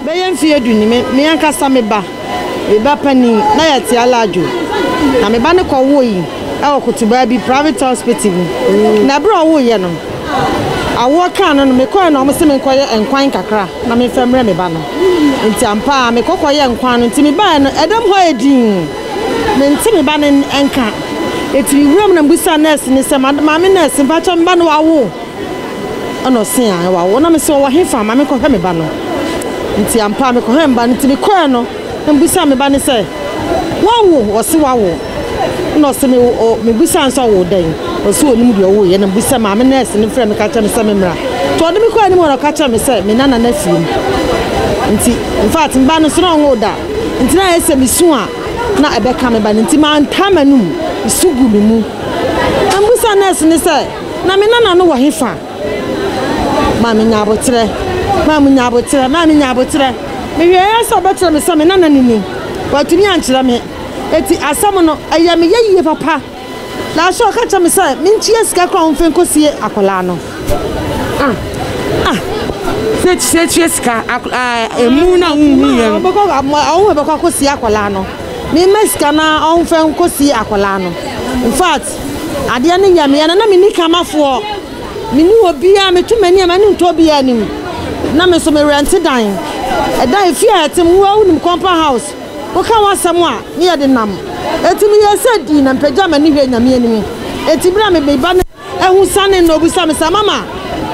bɛyɛ mfe du ni me me ankasa me ba me ba panin na yɛte alaadwo na me ba ne kɔwoo yi ɛwɔ kotobaa bi private hospital mu na berɛ a ɔwoeɛ no Awoɔ kaa no no, mekɔeɛ na wɔse menkɔyɛ nkwan kakra na memfa mmrɛ me ba no. Enti ampa ara mekɔ kɔyɛɛ nkwan no. Enti mebaeɛ no, ɛdam hɔ ayɛ dinn. Mente me ba no nka. Enti mewuraa mu na mebisaa nɛɛse no sɛ, Maame nɛɛse, mpakyɛw me ba no wawo? Ɛna ɔse, Ae, wawo. Na mese, Ɔwɔ hefa? Ma menkɔhwɛ me ba no. Enti ampa ara mekɔhwɛɛ me ba no. Enti mekɔeɛ no, Mebisa me ba no sɛ, Woawo? Ɔse wawo. Nna ɔse me o mebisa no sɛ ɔwo dɛn? Ɔse onim deɛ ɔwo yɛ. Nna mebisa maame nɛɛse no frɛ me ka kyerɛ me sɛ me mmra. Nti ɔde me kɔɔ anim hɔ na ɔka kyerɛɛ me sɛ me nana no afie mu. Nti infact me ba no nso na ɔnwo da. Nti na ayɛ sɛ mesu a na ɛbɛka me ba no. Nti mantaa m'anum. Su gu me mu. Mebisa nɛɛse no sɛ, Na me nana no wɔ hefa? Maame nya aboterɛ, maame nya aboterɛ, maame nya aboterɛ. Mehwɛeɛ sɛ ɔbɛkyerɛ me sɛ me nana no ni. Watumi ankyerɛ me. Eti asɛm no, ɛyɛ me yɛyie papa. Na so ɔka kyerɛ me sɛ mentua sika kora ɔmfa nkɔsie akwadaa no. Ah, ah. Sɛ sɛ tua sika emu na wohu yɛ no. Ɔbɛkɔ bɛkɔ akɔsie akwadaa no. Mema sika na ɔmfa nkɔsie akwadaa no. In fact, Adeɛ no yɛ meɛ no na menni kamafoɔ, menni obiara, meto m'ani a m'ani nto obiara anim. Na me nso merɛnte dan. Ɛdan efie a ɛte mu, wo ara wonim compound house. Woka w'asɛm a, ne yɛ de nam. Enti meyɛɛ sɛ dii na mepagyaa m'ani hwɛɛ Nyame anim. Enti berɛ a me me ba no ahu sanee no ɔbisa me sɛ, Mama,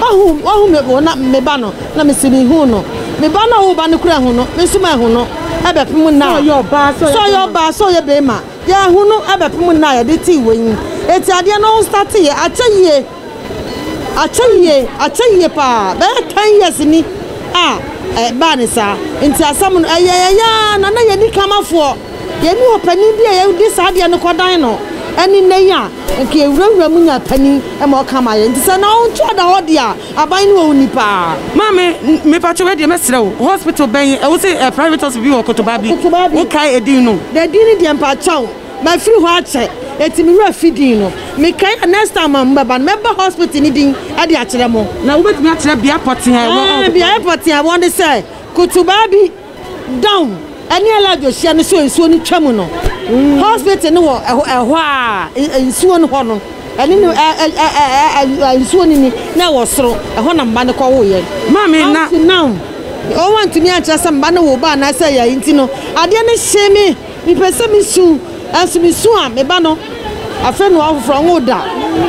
woahu, woahu me wo na, me ba no? Na mese, Mehuu no. Me ba no a wo ba no kura ahu no, me nso mahu no. Ɛbɛpem nnɛ a, sɛ ɔyɛ ɔbaa, sɛ ɔyɛ bɛrima. Yɛahunu abɛpem nna a yɛde tee wɔ yi, enti adeɛ no startee yɛ akyɛ yie, akyɛ yie, akyɛ yie paa, bɛyɛ ten years ni a ɛbaa no saa, enti asɛm no ɛyɛ yɛn yaa na na yɛnni Kamafoɔ, yɛnni ɔpanin bi a yɛde saa adeɛ no kɔdan no ɛne nnɛ yi a. Nka ewurawura mu nya panyin ma ɔka ma yɛn, ntsi sɛ na ɔnnto ɔda hɔ de a, aban no wɔ wo nyi paa. Maame, mepakyɛ wo, ɛdeɛ mɛsrɛ wo, hospital bɛn, ɛwɔ sɛ ɛyɛ private hospital bi wɔ Kotobaa bi, wo kae ɛdin no? Ɛdin no deɛ mpakyɛw, mafiri hɔ akyɛ, enti me werɛ afi din no, mekae a next time a mo bɛba no, mɛba hospital no din de akyerɛ mo. Na wobɛtumi akyerɛ beaɛ pɔtee a ɛwɔ hɔ? Ɛɛ, beaɛ pɔtee a ɛwɔ ne sɛ, Kotobaa bi. Down ɛne Alajo hyia no so nsuo no twa mu no hospital no wɔ ɛhɔ a nsuo no hɔ no ɛne no ɛɛ nsuo no ni na ɛwɔ soro ɛhɔ na mba no kɔ wo yɛ maame na now wɔn antumi ankyerɛ sɛ mba no wo ba anaasɛ yɛ nti no adeɛ no hyee me. Mepɛ sɛ misu, nanso misu a, me ba no afrɛ no ɔfoforo, ɔnwoo da.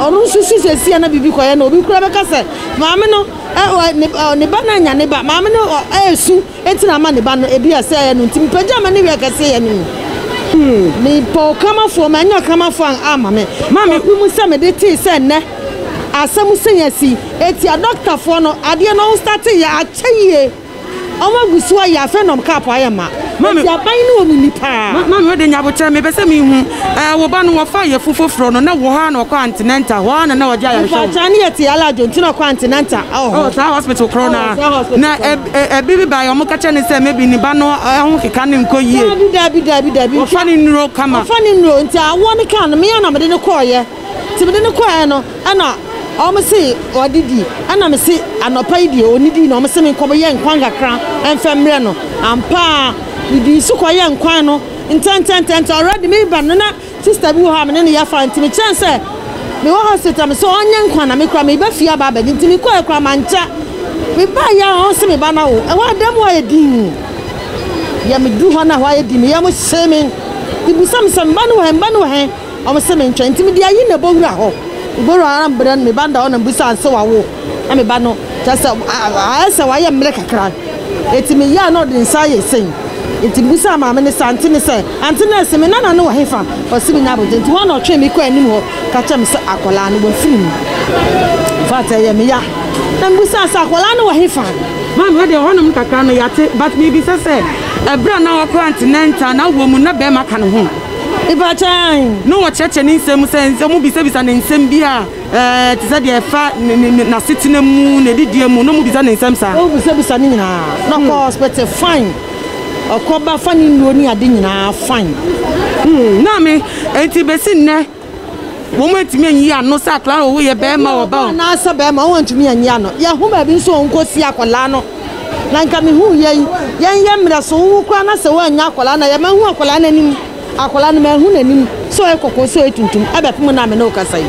Ɔno nso su seesei a na biribi kɔyɛ no. Obi koraa bɛka sɛ, Maame no, ɛ, ɔ, ne, ɔ, ne ba no annya ne ba. Maame no, ɔ, resu, enti na ama ne ba no. Ebia sɛɛ yɛ no nti, mepagyaa m'ani hwɛɛ kɛseyɛ no mu. Mepɛ ɔkramafoɔ, mannya ɔkramafoɔ a amma me. Maame hu mu sɛ mede tee sɛ nnɛ asɛm sɛn asi. Etia dɔktafoɔ no, adeɛ no ɔnstateeɛ, akyɛ yie. Ɔmo agu so ayɛ afei na ɔmo kaapo ayɛ ma. Maame. Eti aban no wɔ mu ni paa. Ma maame wode nyɛ aboterɛ mepɛ sɛ mehu ɛɛ wo ba no wɔfaa yɛfu foforɔ no na wɔhɔ ara na ɔkɔ antenatal hɔ ara na na wɔgye ayarehwɛ wɔ Mpataa ne yɛ te aladwo nti na ɔkɔ antenatal ɛwɔ hɔ. Ɛwɔ saa hospital korɔ no ara na ɛbi bi baeɛ ɔmo ka kyerɛ ne sɛ maybe ne ba no ho keka no nkɔ yie. Daabi daabi daabi daabi nti wɔfa ne nnuro kama. Wɔfa ne nnuro nti awoɔ no kaa no me ara na mede no kɔɔyɛ. Nti mede no kɔɔɛ no ɛna ɔmo se ɔdidi ɛna mese anɔpa yi deɛ ɔnidii na ɔmo se menkɔ yɛ nkwan kakra mfɛ mmerɛ no ampa ara medii so kɔ yɛ nkwan no ntɛntɛntɛ nti already mereba no na sister bi wɔ hɔ a mene no yɛ fine nti mekyerɛ no sɛ mewɔ hospital mese ɔnyɛ nkwan na me koraa mereba fie aba abɛgye nti mekɔɔɛ koraa mankyɛ mebaeɛ a ɔmo se meba no awo ɛhɔ a dɛm hɔ ayɛ dinn yɛ meduru hɔ na hɔ ayɛ dinn me yam hyee me nti bisa me sɛ meba no wɔ he meba no wɔ he. Ɔmo se mentwɛn nti mede ayi no abowura hɔ. Abowura ara mbrɛ no, me ba no da hɔ na mibisa no se wawo? Na me ba no kyerɛsɛ ayɛ sɛ wayɛ mmerɛ kakra. Eti meyɛ a na ɔde nsa ayɛ sei. Enti mibisaa maame no se ante no sɛ, Ante nɛɛse, me nana no wɔ hefa? Ɔse me nyabogye. Enti hɔ a na ɔtwee me kɔɔ anim hɔ ka kyerɛɛ me sɛ akwadaa no wafiri mu. In fact ɛyɛ me ya. Na mibisaa sɛ akwadaa no wɔ hefa? Maame wɔ deɛ hɔnom kakra no yɛate but mibisa sɛ ɛberɛ a na ɔkɔ antenatal na wɔ mu na bɛɛma ka ne ho? Na wɔkyerɛkyerɛ ne nsɛm mu sɛ nsɛm, wobisabisa no nsɛm bi a ɛte sɛ deɛ ɛfa n'asetena mu, n'adidie mu, na wɔbisa no nsɛm saa. Wobisabisa ne nyinaa, na ɔkɔ hospital fine, ɔkɔ ba fa ne nnuro ne ade nyinaa fine. Na me, enti bɛsi nnɛ. Wɔantumi anyi ano sɛ akwadaa no yɛ barima o, ɔba o. Anaasɛ barima o, wɔantumi anyi ano. Yɛho baabi nso o, nkɔsie akwadaa no. Na nka mehu yei. Yɛnyɛ mmerɛ so, wowu koraa na sɛ wɔannya akwadaa no a, yɛ mahu akwadaa no anim. Akwadaa no, mahu n'anim. Sɛ ɔyɛ kɔkɔɔ, sɛ ɔyɛ tuntum. Ɛbɛpem nnɛ a me ne wo kasa yi.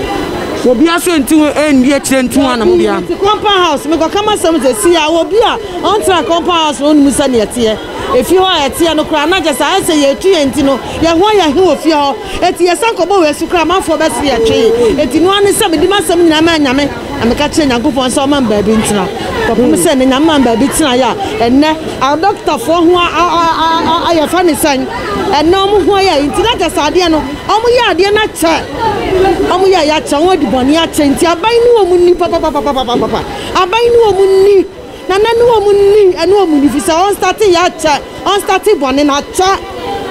Obiara nso nte ho nni akyire nto ho anamɔ biara. Dabi, mete compound house, mekɔka m'asɛm sɛ, si a, obi a ɔntra compound house no, ɔnnim sɛdeɛ ɛteɛ. Efie hɔ a ɛteɛ no koraa, na kyerɛ sɛ ayɛ sɛ yɛretu yɛn ti no, yɛn ho ayɛ he wɔ fie hɔ. Enti yɛsan kɔbɔɔ wɔ asu koraa a, amanfoɔ bɛsere yɛn twee. Enti noaa ne sɛ mede m'asɛm nyinaa maa Nyame, na meka kyerɛɛ Nyankopɔn sɛ ɔmma me baabi ntena. Kɔpem sɛ nnɛ, Nyame maa me baabi tenaeɛ a ɛnnɛ adɔkotafoɔ ho ayɛyɛfa ne sɛn? Ɛnnɛ wɔn ho ayɛ, enti na kyerɛ sɛ adeɛ no, wɔyɛ adeɛ no akyɛ. Wɔyɛeɛ akyɛ, wɔadi bɔne akyɛ, enti aban ne wɔn nni papapapapapapa. Aban ne wɔn nni. Na na ɛne wɔn nni, ɛne wɔn nni, efisɛ ɔnstate yɛ akyɛ, ɔnstate bɔne no akyɛ,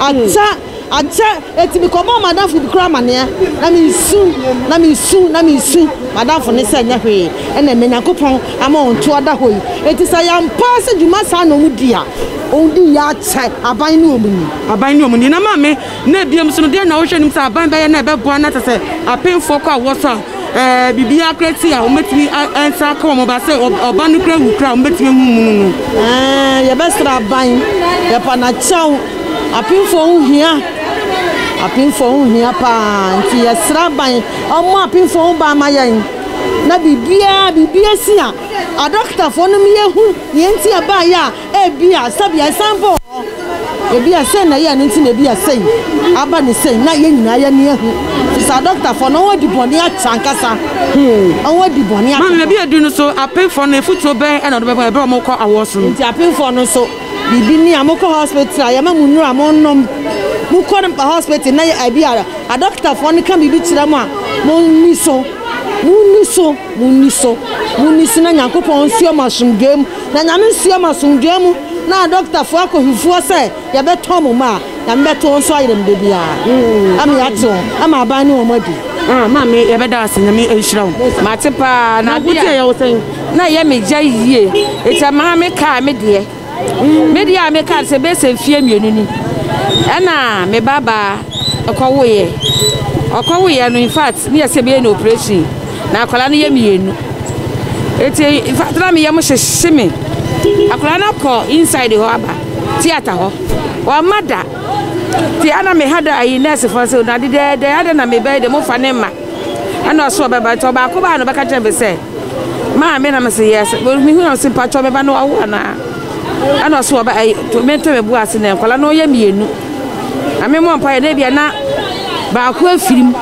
akyɛ, akyɛ. Enti mekɔbɔɔ m'adamfo bi koraa amanneɛ, na meresu, na meresu, na meresu, m'adamfo no sɛ ɛnyɛ hwee na ɛma Nyankopɔn ama wɔn to ada hɔ yi. Enti sɛ ɛyɛ ampa ara sɛ dwuma saa na wɔdi a, wɔdi yɛ akyɛ, aban ne wɔn nni. Aban ne wɔn nni. Na maame, na ebia mu nso no, dɛn na wohwɛ anim sɛ aban bɛyɛ na ɛbɛboa na kyerɛ sɛ apemfoɔ kɔ awoɔ so a Ɛɛ, biribiara koraa ti a wɔbɛtumi ansan aka wɔn ba sɛ ɔba no kura wu koraa a wɔbɛtumi ahu munu no. Ɛɛ, yɛbɛsrɛ aban, yɛpa no akyɛw. Apemfoɔ ho hia, apemfoɔ ho hia paa nti yɛsrɛ aban ɔmmɔ apemfoɔ ho ban ma yɛn na biribiara biribi asi a adɔkotafoɔ no mmiehu nea nti a ɛbaeɛ a. Ebia sɛbea ɛsan bɔɔ hɔ, ebia sɛn na ɛyɛɛ no nti na ebia sei aba ne sei na yɛn nyinaa yɛn ani ahu te saa dɔktafoɔ no wɔn adi bɔne akyɛ ankasa wɔn adi bɔne akyɛ. Maame ebi edu no so apenfoɔ no efutuo bɛn ɛna ɔde bɛma ɛbɛrɛ ɔmo kɔ awɔ so no. Nti apenfoɔ no nso biribi ni a mo kɔ hospital a yɛ ma mo nnuro a mo nom mo kɔ no hospital na yɛ ebi a adɔktafoɔ no ka biribi kyerɛ mo a mo nni so mo nni so. Monni so, monni so na Nyankopɔn nsoɛ mo asomdwoeɛ mu, na Nyame nsoɛ mo asomdwoeɛ mu, na adɔkotafoɔ akɔ hefoɔ sɛ yɛbɛtɔn mo mma a, Nyame bɛto wɔn so ayerɛm da biara, ama yɛate wɔn, ama aban ne wɔn adi. Ah maame yɛbɛda wo ase nyame nhyira wo mate paa na adeɛ a. Nanko deɛ yɛwo sɛn na ɛyɛ me gya yie ɛti a maame kaa me deɛ. Me deɛ a meka sɛ bɛyɛ sɛ mfeɛ mmienu ni ɛna me ba baa ɛkɔwoeɛ ɔkɔwoeɛ no in fact ne yɛ sɛ bɛyɛ no operation na akwadaa no yɛ mmienu eti in fact na me yɛ mo hyehye me akwadaa no akɔ inside hɔ aba theatre hɔ wama da te ana me ha da ayi nurse fɔ sɛ na dedɛɛdɛ ada na me bɛyɛ de mo fa ne ma ɛna ɔso ɔbɛba nti ɔbaako baa no bɛka kyerɛ me sɛ Maa me na me se yes. Me hu na ɔse mpatsɔ me ba no wawo anaa? Ɛna ɔse ɔba ɛyi to me to me bu ase na nkɔla no ɔyɛ mmienu. Na me mɔ mpa yɛ na ebia na baako afiri mu.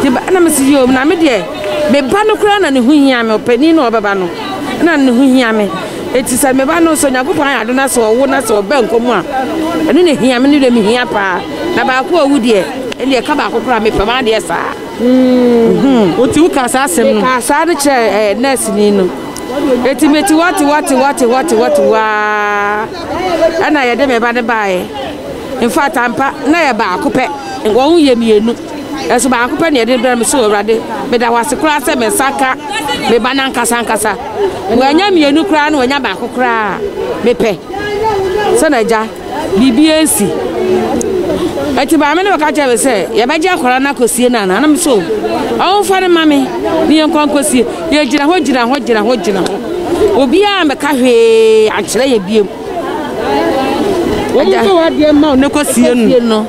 Te ba ɛna me se yɛ omi na me deɛ me ba no koraa na ne ho hia me ɔpanin na ɔbɛba no na ne ho hia me. Eti sɛ me ba no sɛ Onyankopɔn ayɛ ado na sɛ ɔwo na sɛ ɔbɛ nkɔ mu a ɛno na ehia me ne deɛ me hia paa. Na baako a owu deɛ ɛne ɛka baako koraa me pɛ maa deɛ saa. Mm. Oti wo ka saa asɛm no. Ka saa no kyerɛ eh, nurse ni no. Eti me ti wati wati wati wati wati waa. Ɛna yɛde me ba ne baeɛ. In fact ampa na yɛ baako pɛ. Wɔn yɛ mmienu. Ɛso baako pɛ na yɛde brɛ me so awurade. Meda hɔ ase koraa sɛ me nsa ka me ba nankasa ankasa. Wɔanya mmienu koraa na wɔanya baako koraa. Mepɛ. Sɛ na agya. Biribi ansi. Ɛti maame no bɛka kyerɛ me sɛ yɛbɛgye akwadaa no akɔsie no anaa? Na me so ɔmfa no ma me ne yɛnkɔ nkɔsie. Yɛgyina hɔ gyina hɔ gyina hɔ gyina hɔ. Obiara ammɛka hwee ankyerɛ yɛ biom. Wɔn nso wɔadeɛ mma wo ne kɔsie no.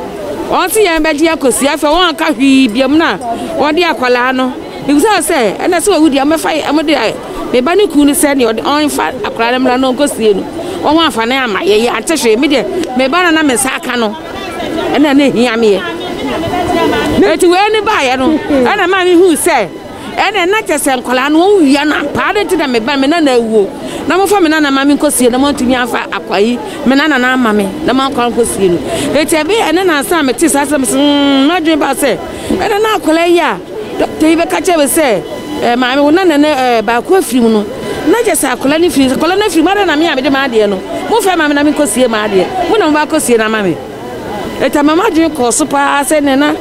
Wɔn nso yɛn bɛgye akɔsie. Afei wɔn anka hwee biom na wɔde akwadaa no. Mibisaa sɛ, Ɛna sɛ owu deɛ, wɔbɛfa yɛn? Wɔde ayɛ me ba ne kunu no sɛ nea ɔmfa akwadaa no mmra na ɔnkɔsie no wɔ ho afanan ama yɛn. Yɛante hwee. Me deɛ, me ba no a na me nsa aka no, ɛna na ehia me yɛ. Enti wei no baeɛ no, ɛna ɛmaa mihui sɛ, ɛnneɛ na kyerɛ sɛ nkwadaa no wɔawia no ampa. Adɛn nti na me ba, me nana awuo, na mofa me nana mma me nkɔsie no, na moantumi amfa akwa yi, me nana no amma me, na moankɔ ankɔsie no? Enti ɛbɛyɛɛ nnɛ na ansa na metee saa asɛm yi sɛ, hmm, m'adwene baa sɛ, ɛna na akwadaa yi a Dɔkta yi bɛka kyerɛ me sɛ, eh, maame, wo nana no eh, baako afiri mu no, na kyɛ sɛ akwadaa no firi, akwadaa no afiri mu, adɛn na me a mede m'adeɛ no, momfɛ maame na menkɔsie m'adeɛ, mo na mobɛakɔsie no ama me. Ɛta ma m'adwene kɔɔ so paa sɛ nnɛ na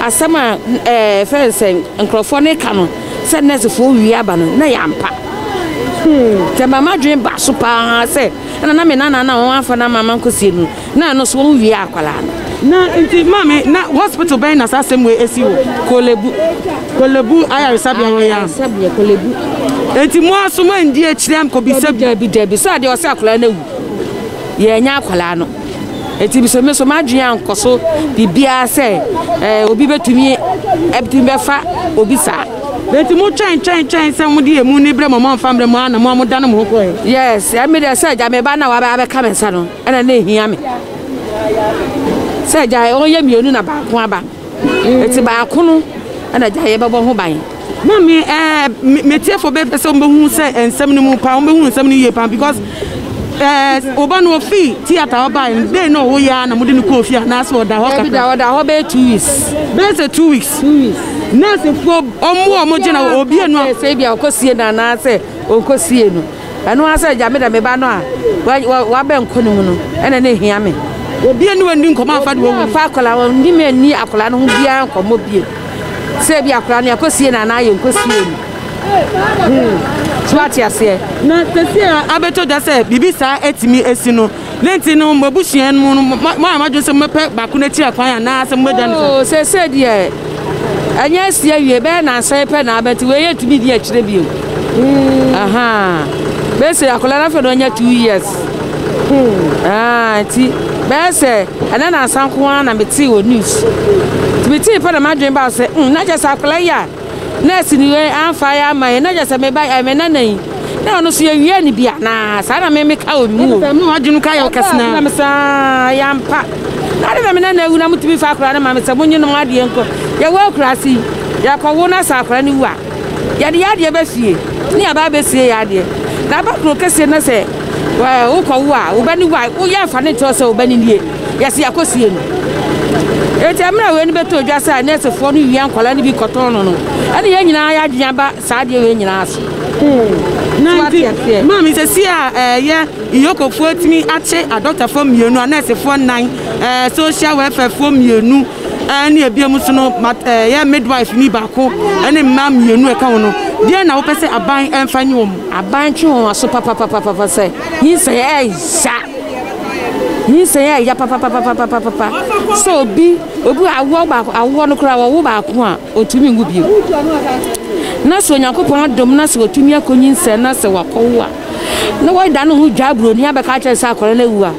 asɛm a eh, fɛn sɛ nkurɔfoɔ no ka no sɛ nɛɛsefoɔ wie aba no, na yɛ ampa. Hmm. Ɛta ma m'adwene ba so paa sɛ ɛna na me nana na wɔn afa na mama nkosie no na ɛno so wɔn wie akwadaa no. na nti maame na hospital bɛn na saa asɛm wei esi wɔ. kolebu kolebu ayaresabea hɔ ya. ayaresabea kolebu. nti mo aso mo ndi akyire ankobisa bi. dabi dabi so adeɛ ɔsɛ akwadaa no awu yɛn nya akwadaa no. ɛti bisɛ me so m'adwene ankɔ so biribiara sɛ eh, obi bɛtumi ɛbɛtumi bɛfa obi saa Na nti mo twɛn twɛn twɛn sɛ mo de emu ne brɛ mo mo anfa mbrɛ mo ana mo a mo dan mo ho kɔɛ. Yes ɛmi dɛ sɛ gya me ba na wabɛ abɛka me nsa no ɛna na ehia me sɛ gya wɔn yɛ mienu na baako aba eti baako no ɛna gya yɛ bɛbɔ ho ban. Mami ɛɛ me tie fo bɛ pɛ sɛ wɔn bɛ hu sɛ nsɛm no mu paa wɔn bɛ hu nsɛm no yie paa because ɛɛ ɔba no ofi theatre ɔba yɛ dɛ na ɔwɔ yɛ a na mo de no kɔ ofie anaasɛ ɔda hɔ kakra. Ɛbi da ɔda hɔ bɛyɛ two weeks. Bɛyɛ sɛ two weeks. Two weeks. Nursefoɔ ɔmo a ɔmo gyina hɔ obi enu ayɛ sɛ ebi a ɔkɔsie no anaasɛ ɔnkɔsie no ɛno ara sɛ agya me da me ba no a wabɛn nkɔ ne mu no ɛna ne hia me. Obi enu ɛni nkɔmɔ afa de wɔwu. Afa akɔla wɔn ni me ni akɔla no ho biara nkɔmɔ bie sɛ ebi akɔla no yɛkɔsie no anaa yɛnkɔsie no. Hmm. So ate aseɛ. Na sɛsi a abɛtɔ da sɛ biribi saa atumi asi no. Dɛn nti no mo abusua no mu no moayɛ mo adwene sɛ mobɛpɛ baako no akyiri akwan anaa sɛ mobɛgya no saa? Oo, seesei deɛ ɛnyɛ asi awie, ɛbɛyɛ nnansa yi pɛ na aba nti wei yɛntumi di akyire bio. Hmm. Aha. Bɛsɛ akwadaa no afei na ɔnya two years. Hmm. Ah, nti bɛyɛ sɛ ɛnɛ nansa nko ara na metee wɔ news. Nti metee pɛ na m'adwene baa sɛ, hmm, na kyɛ sɛ akwadaa yi a Nurse ni yɛ anfa yɛ ama yɛ na gyɛ sɛ me ba me nana yi na ɔno so yɛ wie ne bi anaa saa na me me ka wɔ mu o. Mu adwene ka yɛ ɔkɛse na. Na me saa yɛ ampa na de na me nana awu na mo tumi fa akora no ma me sɛ mo nye no mo adeɛ nkɔ yɛ wɔ akurase yi yɛ kɔ wo na sɛ akora no wu a yɛ de yɛ adeɛ bɛ fie ne yɛ ba bɛ sie yɛ adeɛ na ba kuro kɛseɛ na sɛ wokɔ wo a wo bɛ ne wu a wo yɛ nfa ne nkyɛw sɛ wo bɛ ne nie. Yɛse yɛakɔsie no. Enti mmerɛ a wei no bɛtɔ dwa sɛ nɛɛsefoɔ no wia nkwadaa no bi kɔtɔn no no, ɛne yɛn nyinaa yɛ adwene aba saa adeɛ wei nyinaa so. Hmm. So ate aseɛ. Maame sɛ si a ɛyɛ eh, iyokofoɔ atumi akye adɔktafoɔ mmienu, anɛɛsefoɔ nnan, ɛɛ eh, social welfarefoɔ mmienu, ɛne eh, ebiemu so no ɛyɛ midwife ni baako, ɛne mmaa mmienu ɛka ho no. Deɛ na wopɛ sɛ aban ɛmfa nye wɔn? Aban twe wɔn aso papapapapa sɛ nyinsɛn ɛnsa. Nyinsɛn a ɛya papapapapapapa sɛ obi obi awoɔ baako awoɔ no koraa wɔwo baako a ɔtumi nwu bio na sɛ onyankopɔn adom na sɛ wɔtumi akɔ nyinsɛn na sɛ wakɔwo a na wɔda ne ho dwa aburoni abɛka kyerɛ sɛ akɔrɔ no awu a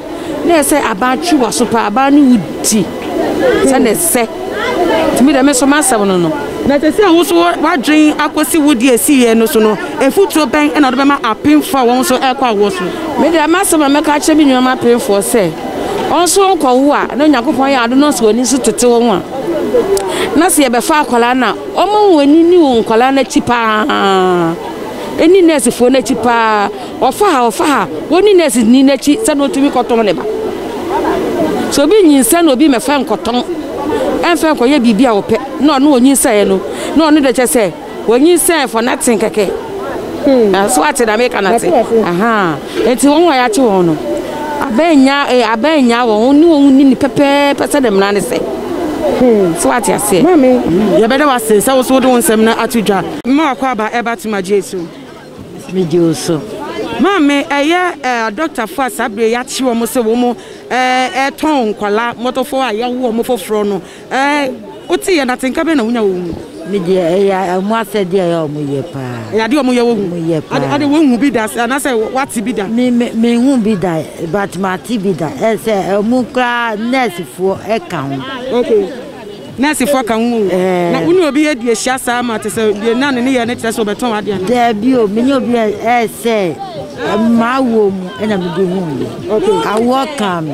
na ɛsɛ aban twe wɔ so paa aban no wu ti sɛ na ɛsɛ tumi dɛm nso ma asɛm no no na sɛ sɛ wo so wadwen akɔsi wo deɛ ɛsiiɛ no so no Afotuo bɛn na wode bɛma apemfoɔ a wɔn nso rekɔ awoɔ so? Me deɛ, m'asɛm a mɛka akyerɛ me nuanom apemfoɔ sɛ, wɔnsow nkɔwo a na Onyankopɔn ayɛ ade no nso wɔn ani so tete wɔn a na sɛ yɛbɛfa akwadaa no a, wɔmma wɔn ani nni wɔn nkwadaa no akyi pa ara, ɛnni nɛɛsefoɔ no akyi pa ara, wɔfa ha, wɔfa ha, wɔnni nɛɛseni no akyi sɛdeɛ ɔtumi kɔtɔn ne ba. Sɛ obi nyinsɛn na obi mmɛfa nkɔtɔn ɛmfa nkɔyɛ biribi a ɔpɛ na ɔno ɔnyinsaeɛ no na ɔno deɛ kyɛ sɛ Wonyinsɛn fɔ na tsen kɛkɛ. Hmm. So atse dza meka no atse? Aha. Ntsi hɔn a yɛakye hɔn no, aban nya eh, aban nya hɔn, hɔn ne hɔn nyini pɛpɛɛpɛ sɛdeɛ mmara no sɛ. Hmm. So ate aseɛ. Maame. Hmm. Yɛbɛda wo ase sɛ wo so wode wo nsɛm no ato dwa. Mma wakɔ aba ɛba tom agye so. Megye wo so. Maame ɛyɛ eh, adɔktafo a saa bere yɛakye wɔn sɛ wɔn ɛtɔn eh, nkwadaa mmɔtɔfo a yɛawo wɔn foforɔ no Ɛɛ, wote yɛn atenka bɛn na wonya wɔ wɔn mu? Me deɛ, ɛyɛ wɔn asɛdeɛ a ɛyɛ a wɔyɛ paa. Ɛyɛ adeɛ a wɔyɛ wɔ wɔn mu? Wɔyɛ paa. Ade, ade woahu bi da anaasɛ woate bi da? Me, me, menhu bi da, but mate bi da. Ɛyɛ sɛ wɔn koraa nɛɛsefoɔ ka ho. Okay. Nɛɛsefoɔ ka ho o. Ɛɛ. Na wo ne obi adi ahyia saa ma te sɛ deɛ na ne nneyɛɛ no kyerɛ sɛ ɔbɛtɔn ade anaa? Daabi o, me ne obi a ɛyɛ sɛ m'awoɔ mu na mede huiɛ. Okay. Awoɔ kaa me.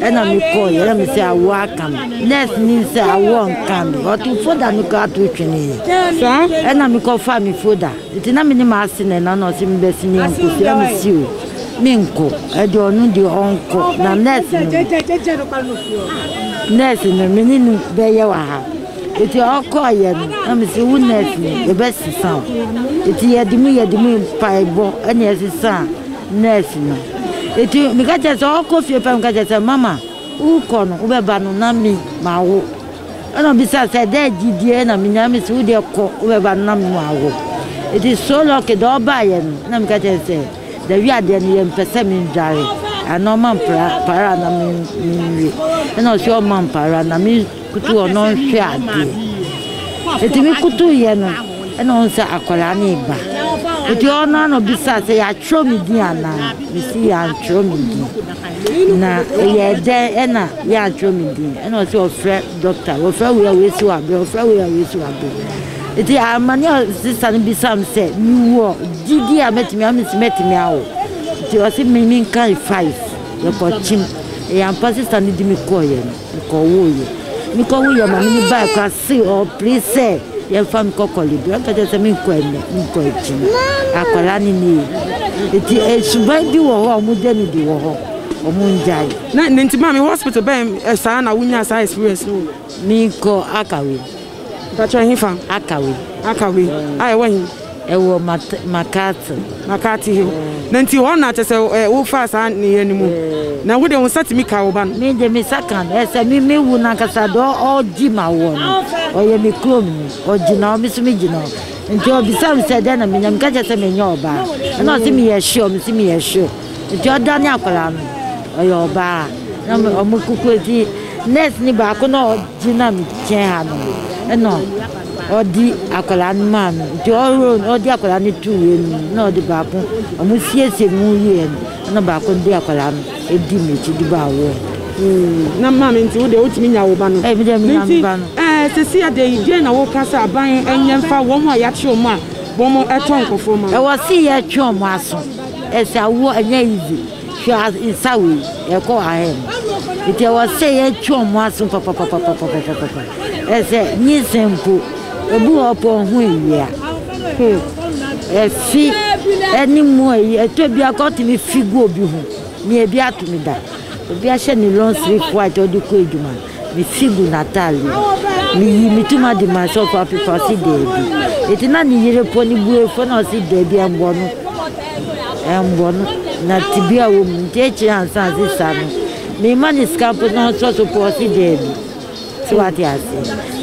Ɛna me kɔɔeɛ na me sɛ awoɔ aka me. Nurse ni sɛ awoɔ nka me. Ɔto folder no koraa to tweneeɛ. Ɛna me kɔfaa me folder. Nti na me ne m'ase na ɛna na ɔse me bɛsi ne yɛnkɔsua me si o. Me nkɔ. Ɛde ɔno deɛ ɔnkɔ. Na nurse no nurse no me ne no bɛyɛ wɔ ha. Nti ɔkɔɔeɛ no na me se wo nurse ni yɛbɛsesa o. Nti yɛde mu yɛde mu mpaebɔ ɛna ɛsesaa. Nurse no eti meka kyerɛ sɛ ɔkɔ fie pɛ meka kyerɛ sɛ mama wokɔ no wobɛba no na me ma wo ɛna ɔbisa sɛ dɛ gyidie na menya me sɛ wodeɛ kɔ wobɛba no na me ma wo eti so lɔke dɛ ɔbaayɛ no na meka kyerɛ sɛ da wi adeɛ no yɛ mpɛ sɛ me ndware ana ɔma mpara para na me nwe ɛna ɔsi ɔma mpara na me Koto ɔno nhwɛ adeɛ. Eti me koto yɛ no ɛna ɔn sɛ akwadaa no reba. Eti ɔno ara na ɔbisa sɛ yɛatwerɛ me din anaa? Me si yɛantwerɛ me din. Na ɛyɛ dɛn ɛna yɛantwerɛ me din? Ɛna ɔsi ɔfrɛ dɔkta, wɔfrɛ wei a wei si w'abrɛ, wɔfrɛ wei a wei si w'abrɛ. Eti amane a sista no bisa me sɛ me wɔ gyidie a mɛtumi a me si mɛtumi awo. Eti ɔsi me me nkan five yɛkɔ kyim. Ɛyɛ ampa sista no di me kɔɔyɛ no. Mekɔwoeɛ. Mekɔwoeɛ ma mene baeɛ koraa se ɔpere sɛ yɛmfa nkɔ kɔlebe. Ɔka kyerɛ sɛ menkɔ ɛnnɛ, menkɔ akyiri. Akwadaa no ne yɛ. Eti suban bi wɔ hɔ a wɔgya no di wɔ hɔ. Wɔngyae. Na nti maame hospital bɛn saa na wonyaa saa experience no? Menkɔ Akawem. Fa kyerɛ, Ɛhefa? Akawe. Akawe. A, ɛwɔ he? Ɛwɔ Mat, McCarthy. McCarthy Hill. Na nti hɔ na kyerɛ sɛ ɛ, wofaa saa nneyɛɛ no mu. Na wo deɛ wo nsa tumi kaa wo ba no? Me deɛ me nsa kaa no. Ɛ, sɛ me, me wu no ankasa deɛ ɔ, ɔɔgye ma woɔ no, ɔyɛ me kurom he. Ɔgyina hɔ, me nso megyina hɔ. Nti ɔbisaa me sɛ, dɛn na menya? Meka kyerɛɛ sɛ menyɛ ɔbaa. Ɛna ɔse, meyɛ sure? Mese, meyɛ sure. Nti ɔdane akwadaa no, ɔyɛ ɔbaa. Na ɔmo, ɔmo kuku, nti nurse no baako na ɔ. Ntsi na mekyɛn ha no, nna ɔdze akwadaa no maa me. Ntsi ɔweɔn no, ɔdze akwadaa no too w'enyi mu, nna ɔdze baako, ɔmo siesiee no ho wiei no, nna baako dze akwadaa no dzii m'ekyir dze baa hɔ. Ooh, na maame, ntsi wo de wotumi nya wo ba no? Ei, me deɛ menya me ba no. Na ntsi, eh, sesei adɛn yi, deɛn na woka sɛ aban nyɛ mfa wɔn a yɛakye wɔn a wɔtɔ nkorɔfoɔ ma no? Ɛwɔ se yɛtwe ɔmo aso. Ɛsɛ awoɔ ɛnyɛ easy. Hwɛ nsa wei, ɛkɔ ahead no. Nti ɛwɔ sɛ yɛtwe wɔn aso papapapapapapapa. Ɛsɛ nyinsɛn mpo, ebi wɔ hɔ ɔpɛ ɔho awia. Hmm. Ɛfi ɛne mu ayi, ɛtɔ bi akɔ tumi fi gu obi ho. Nea ebi ato ne da. Obi ahyɛ ne long sleeve white ɔde kɔ adwuma. Mefi gu n'atade mu. Meyii me ti mu ade maa sɛ ɔfa afefa ɔse daabi. Enti na ne yere pɔ ne bue fɔ na ɔse daabi ɛmbɔ no. Ɛmbɔ no. Na tebea wɔ mu. Nti akyire ansa ase sa no. Mema ne sika mpo na ɔsɔ so pɔ ɔse daabi. So wate ase.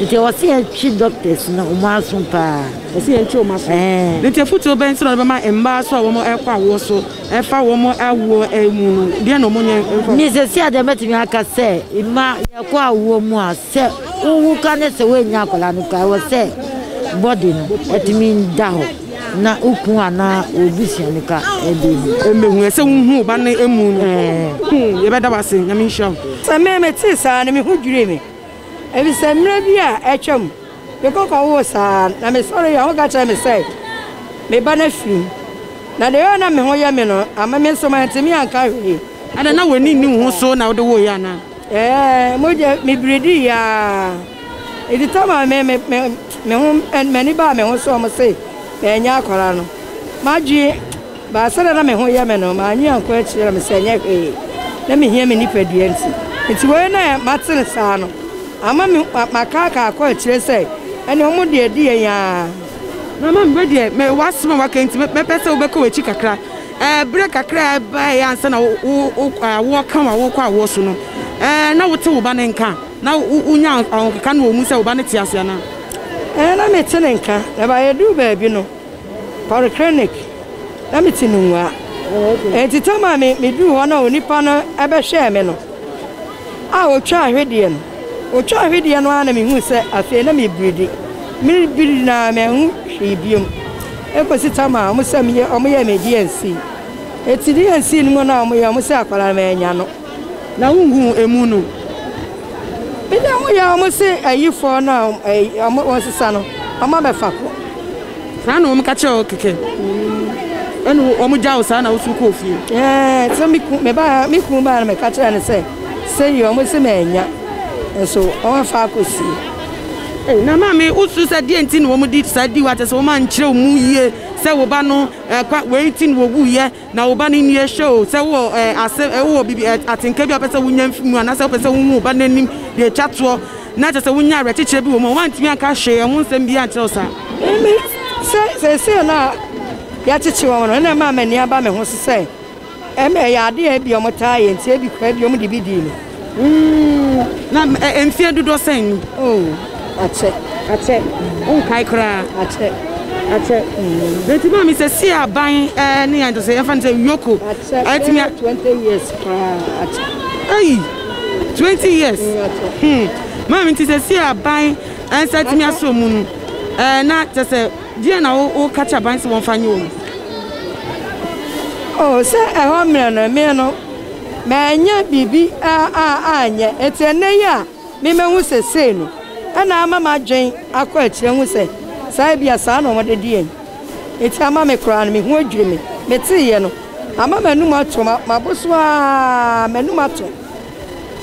Nti ɔse ɛtwe doctors no ɔmo aso paa. Ɔse ɛntwe ɔmo aso. Ɛɛn. Nti afutuo bɛn nti na ɔde bɛma mmaa so a wɔn ɛkɔ awoɔ so? Ɛfa wɔn awoɔ mu no, deɛ na wɔnyɛ mfa. Ne seesei a deɛ mɛtumi aka sɛ mma yɛkɔ awoɔ mu a, sɛ wowu ka ne sɛ woannya akwadaa no koraa, ɛwɔ sɛ body no tumi da hɔ na wo kunu anaa w'abusua no ka de hu. Mmɛhu ɛ sɛ wohu wo ba no amu no. Yɛbɛda wo ase. Nyame nhyira wo. Sɛ me metee saa no, me ho dwirii me, efisɛ mmerɛ bi a atwam. Me koko woo saa ara, na mesɔreeɛ a, ɔka kyerɛɛ me sɛ, Me ba, na firi mu. Na deɛ ɛyɔeɛ a na me ho yɛ me no, amma me nso mantumi anka hwee. Adɛn, na w'ani nni wo ho so na wode woeɛ anaa? Ɛɛ, mogya, mebiridiiɛ ara. Enti Tamar mee me, me, me ho, m'ani baa me ho sɛ wɔn se menyɛ akwadaa no. M'adwene. But sɛdeɛ na me ho yɛ me no, mannye annkɔ akyiri na mesɛ ɛnyɛ hwee, na mehia me nipadua nti. Nti wei na mate no saa no ama me makaakaa akɔ akyire sɛ ɛneɛ wɔn deɛ ɛdi yɛn aa. Na mami wei deɛ me w'asɛm a w'aka nti mɛpɛ sɛ wobɛka w'akyi kakra ɛɛ berɛ kakra a ɛbaeɛ ansa na wo awoɔ ka wo awoɔ kɔ awoɔ so no ɛɛ na wote wo ba no nka na wonya ahokeka no wɔ mu sɛ wo ba no te ase anaa? Ɛɛ na mete ne nka na ɛbaa yɛduu baabi no. Polyclinic na me te no mua enti tam a me me duu hɔ na onipa no bɛhwɛɛ me no a otwaa hwedeɛ no otwaa hwedeɛ no ara na me hui sɛ afei na me biridi me biridi na me ho hwee biom ekosi tam a wɔn sɛ me yɛ wɔn yɛ me DNC eti DNC no mu na wɔn yɛ wɔn sɛ akwadaa no manya no. Na wohu emu no. Bida mu yɛ wɔn se ayi fɔɔ no a wɔn sesa no wɔn abɛ fa kɔ. Saa na wɔn ka kyerɛ wo kɛkɛ. Ɛna wɔn gya wo saa na woso kɔɔ fie. Ɛɛ sɛ me kun me ba me kun ba na me ka kyerɛ no sɛ sɛ yi wɔn se ma anya nso wɔn afa akɔ sie. Ɛɛ na maame wosu sɛ deɛ nti na wɔn di saa di wo atɛ sɛ wɔn ankyerɛ wo mu yie sɛ wo ba no ɛkwa wei nti na wɔwuiɛ. Na wo ba no nni ahyɛ oo, sɛ wowɔ eh, asɛm, eh, wowɔ biribi, eh, atenka bi a wopɛ sɛ wonya fi mu anaasɛ wopɛ sɛ wohu wo ba no anim de atwa toɔ na kyerɛ sɛ wonya awerɛkyekyerɛ bi wɔ mu a, woantumi anka hwee, ɛho nsɛm biara ankyerɛ wo saa. Emi, sɛ seesei no a yɛakyekye wɔn no, ɛna ɛmaa m'ani aba me ho so sɛ ɛma ɛyɛ ade a ebia wɔtaa yɛ nti, ebi koraa bi wɔde bi dii me. Mm, na eh, mfeɛ dodoɔ sɛn ni? Oh, akyɛ. Akyɛ. Wonkae koraa. Akyɛ. Akyɛ. Mm. Nti maame sɛ si aban eh, ne yɛn sɛ yɛmfa no sɛ yoko. Akyɛ. Ɛtumi a. Twenty years koraa. Akyɛ. Ɛyi, twenty years. Mm, akyɛ. Hmm. Maame nti sɛ si aban ɛnsa eh, tumi asɔ mu no eh, na kyɛ sɛ deɛ na woka kyɛ aban sɛ wɔmfa nyɛ wɔ mu. Oh, sɛ ɛhɔ mmerɛ no, mmerɛ no. Mannya biribi a a anyɛ. Enti ɛnnɛ yi a me mahu sesei no na ama m'adwen akɔ akyiri ahu sɛ saa ebia saa na wɔde de yɛn. Enti ama me koraa no me ho adwiri me. Meteeɛ no ama m'anum atɔ ma mabɔ so a a m'anum atɔ.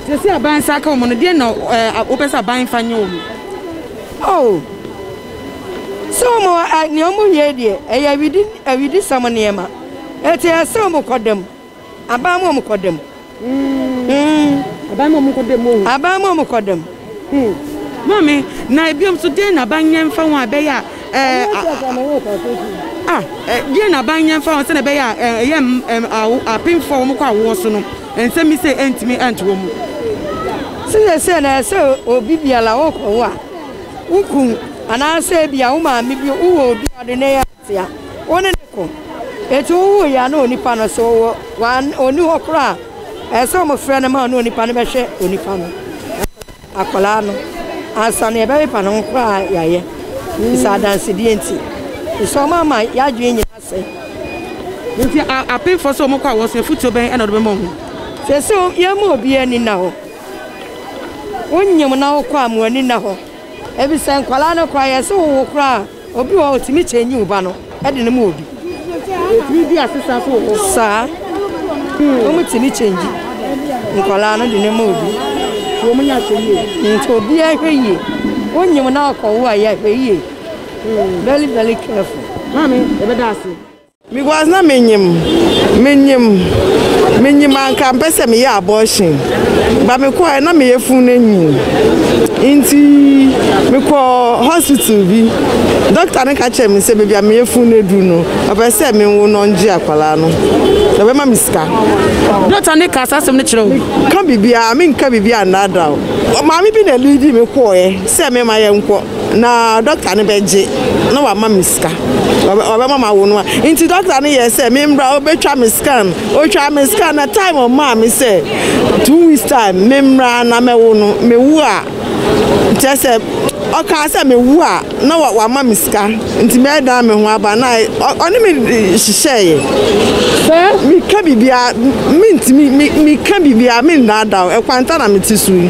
Sesei aban nsa aka wɔn no deɛn na eh wopɛ sɛ aban mfa nyɛ wɔn? Oh sɛ wɔn eh nea wɔyɛ yi deɛ ɛyɛ awidi awidisɛm nneɛma. Enti ɛyɛ sɛ wɔkɔ da mu. Aban mu a wɔkɔ dɛm. Mm. Aban mu a wɔkɔ dɛm o. Aban mu a wɔkɔ dɛm. Hmm. Maame, na ebiom nso deɛ na aban nyɛ mfa ho a ɛbɛyɛ a ɛɛ. Ah, deɛ na aban nyɛ mfa ho sɛdeɛ ɛbɛyɛ a ɛyɛ apemfoɔ a wɔkɔ awoɔ so no nsɛm bi sɛ ɛntumi ɛnto wɔn mu. Sɛdeɛ na ɛsɛ obi biara wɔkɔ wo a, wo kun anaasɛ ebi a wo maame bi wowɔ obi a ɔde ne yɛ. Tia. Wo ne no ko. Enti wowoo yɛ a na onipa no so wɔ wan ɔni hɔ koraa a, ɛsɛ sɛ wɔfrɛ no ma ɔne onipa no bɛhwɛ onipa no. Akwadaa no, ansa na yɛbɛpepa ne ho koraa yɛayɛ. Bisa adansedeɛ nti. Bisa wɔn ama yɛadwene nyinaa sɛe. Nti apemfoɔ sɛ wɔkɔ a wɔn so afutuo bɛn na wɔde bɛma wɔn ho? Sɛsɛ yɛn mu obiara ani nna hɔ. Wonyem na wokɔ a mo ani nna hɔ. Ebisa nkwadaa no koraa yɛse wowo koraa a. Obi wɔ hɔ a otumi change wo ba no de no ma obi. Otumi di asesa so wɔ hɔ. Saa. Wɔn tumi change nkwadaa no de no ma obi. Wɔn nyɛ ahwɛ yie. Nti obi ahwɛ yie. Wonyim na akɔwo a yɛahwɛ yie. Very very careful. Maame, yɛbɛda ase. Because na menyim, menyim, menyim anka mpɛ sɛ meyɛ abortion ba mekɔɛ na meyɛ fun no nyin nti mekɔ hospital bi dɔkta no ka kyerɛ me sɛ baabi a meyɛ fun no aduru no ɔpɛ sɛ menwo no ɔngye akwadaa no ɔbɛma me sika. Dɔkta ne ka saa asɛm no kyerɛ wo? Ka biribiara menka biribiara nnaadaa wo maame bi na ɛliidi me kɔɛ sɛ mema yɛnkɔ. Na dɔkta no bɛgye na wama me sika. Ɔbɛma ma wo no a. Nti dɔkta no yɛɛ sɛ memmra ɔbɛtwa me scan. Ɔtwaa me scan na time ɔmaa me sɛ two weeks time memmra na mɛwo no. Mewo a kyerɛ sɛ ɔkaa sɛ mewo a na wama me sika nti mɛdan me ho aba na ɔne me hyehyɛeɛ. Sɛ meka biribiara mentumi meka biribiara mendaadaw ɛkwanta na mete so yi.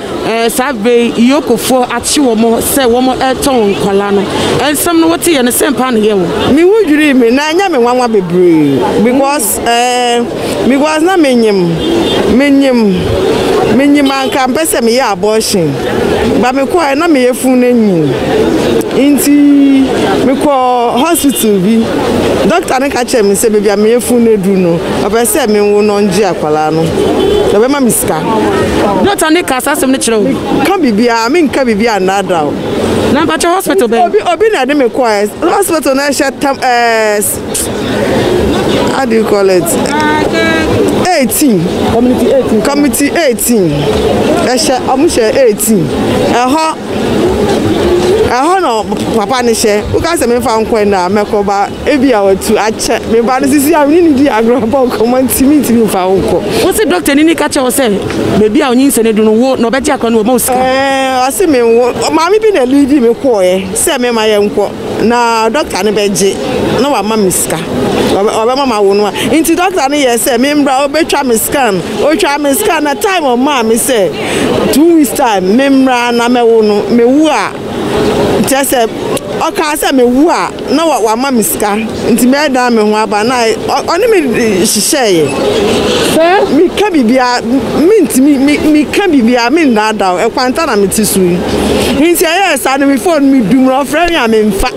Saa berɛ yi Iyokofoɔ akye wɔn sɛ wɔn retɔ wɔn nkwadaa no. Nsɛm no wote yɛ no sɛn paa na ɛyɛ wo? Me ho dwirii me na ɛnyɛ me nwanwa bebree because eh because na me nyim me nyim me nyim anka mpɛ sɛ me yɛ abortion but me kɔɛ na me yɛ fun no nyin nti me kɔ hospital bi doctor no ka kyerɛ me sɛ baabi a me yɛ fun no aduru no ɔpɛ sɛ me nwo no ɔngye akɔ. Akwadaa no, na ɔbɛma me sika. Dɔkta ne ka saa asɛm no kyerɛ wo? Ka biribiara, menka biribiara nnaadaa wo. Na mpakyɛ hospital bɛn? Obi obi na ɛde me kɔ ɛ hospital na ɛhyɛ tam ɛɛ how do you call it? Eighteen. Community eighteen. Community eighteen. Ɛhyɛ ɔmo hyɛ eighteen. Ɛhɔ ɛhɔ na papa ne hyɛ woka sɛ mefa nkɔ ɛnna mɛkɔ ba. Ebia watu akyɛ. Me ba no sisi a me ne no di agorɔ bɔ nkɔmmɔ nti mintumi mfa wo nkɔ. Wose dɔktani no ka kyerɛɛ wo sɛ baabi a onyinsɛn adu no wo na ɔbɛgye akora no wama wo sika? Ɛɛ, ɔse menwo. Maame bi na liidi me kɔeɛ sɛ mɛma yɛnkɔ na dɔkta no bɛgye na wama me sika. Ɔbɛma mawo no a. Nti dɔkta no yɛɛ sɛ memmra ɔbɛtwa me scan. Ɔtwaa me scan na time ɔmaa me sɛ two weeks time memmra na mɛwo no. Mewo a. Kyerɛ sɛ, ɔkaa sɛ mewu a, na wama me sika nti mɛdan me ho aba na ɔne me hyehyɛeɛ sɛ meka biribiara mentumi meka biribiara mendaadaw ɛkwanta na mete so yi nti ɛyɛɛ saa no me phone medum no ɔfrɛ me a memfa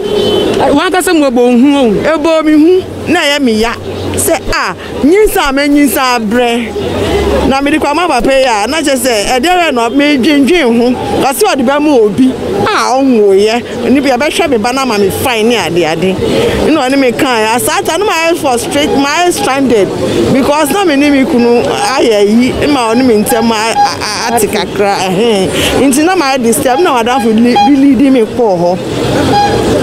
wankasa mu ɛbɔ hu o ɛbɔɔ me hu na ɛyɛ me ya sɛ a Nyinsɛn a manyinsɛn abrɛ na mede kɔ ama papa yi a, na kyerɛ sɛ ɛdeɛrɛ no medwendwen ho. Ɔse ɔde bɛma obi a ɔnwoeɛ, ɔno bi ɛbɛhwɛ me ba no ama me fine ne adeade. Ɛna ɔne me kaeɛ, asaata no mayɛ frustrate, mayɛ stranded because na me ne me kunu ayɛ ayi ma ɔne me ntɛm ate kakra ɛhɛn. Nti na mayɛ disturb na madamfo bi leading me kɔɔ hɔ.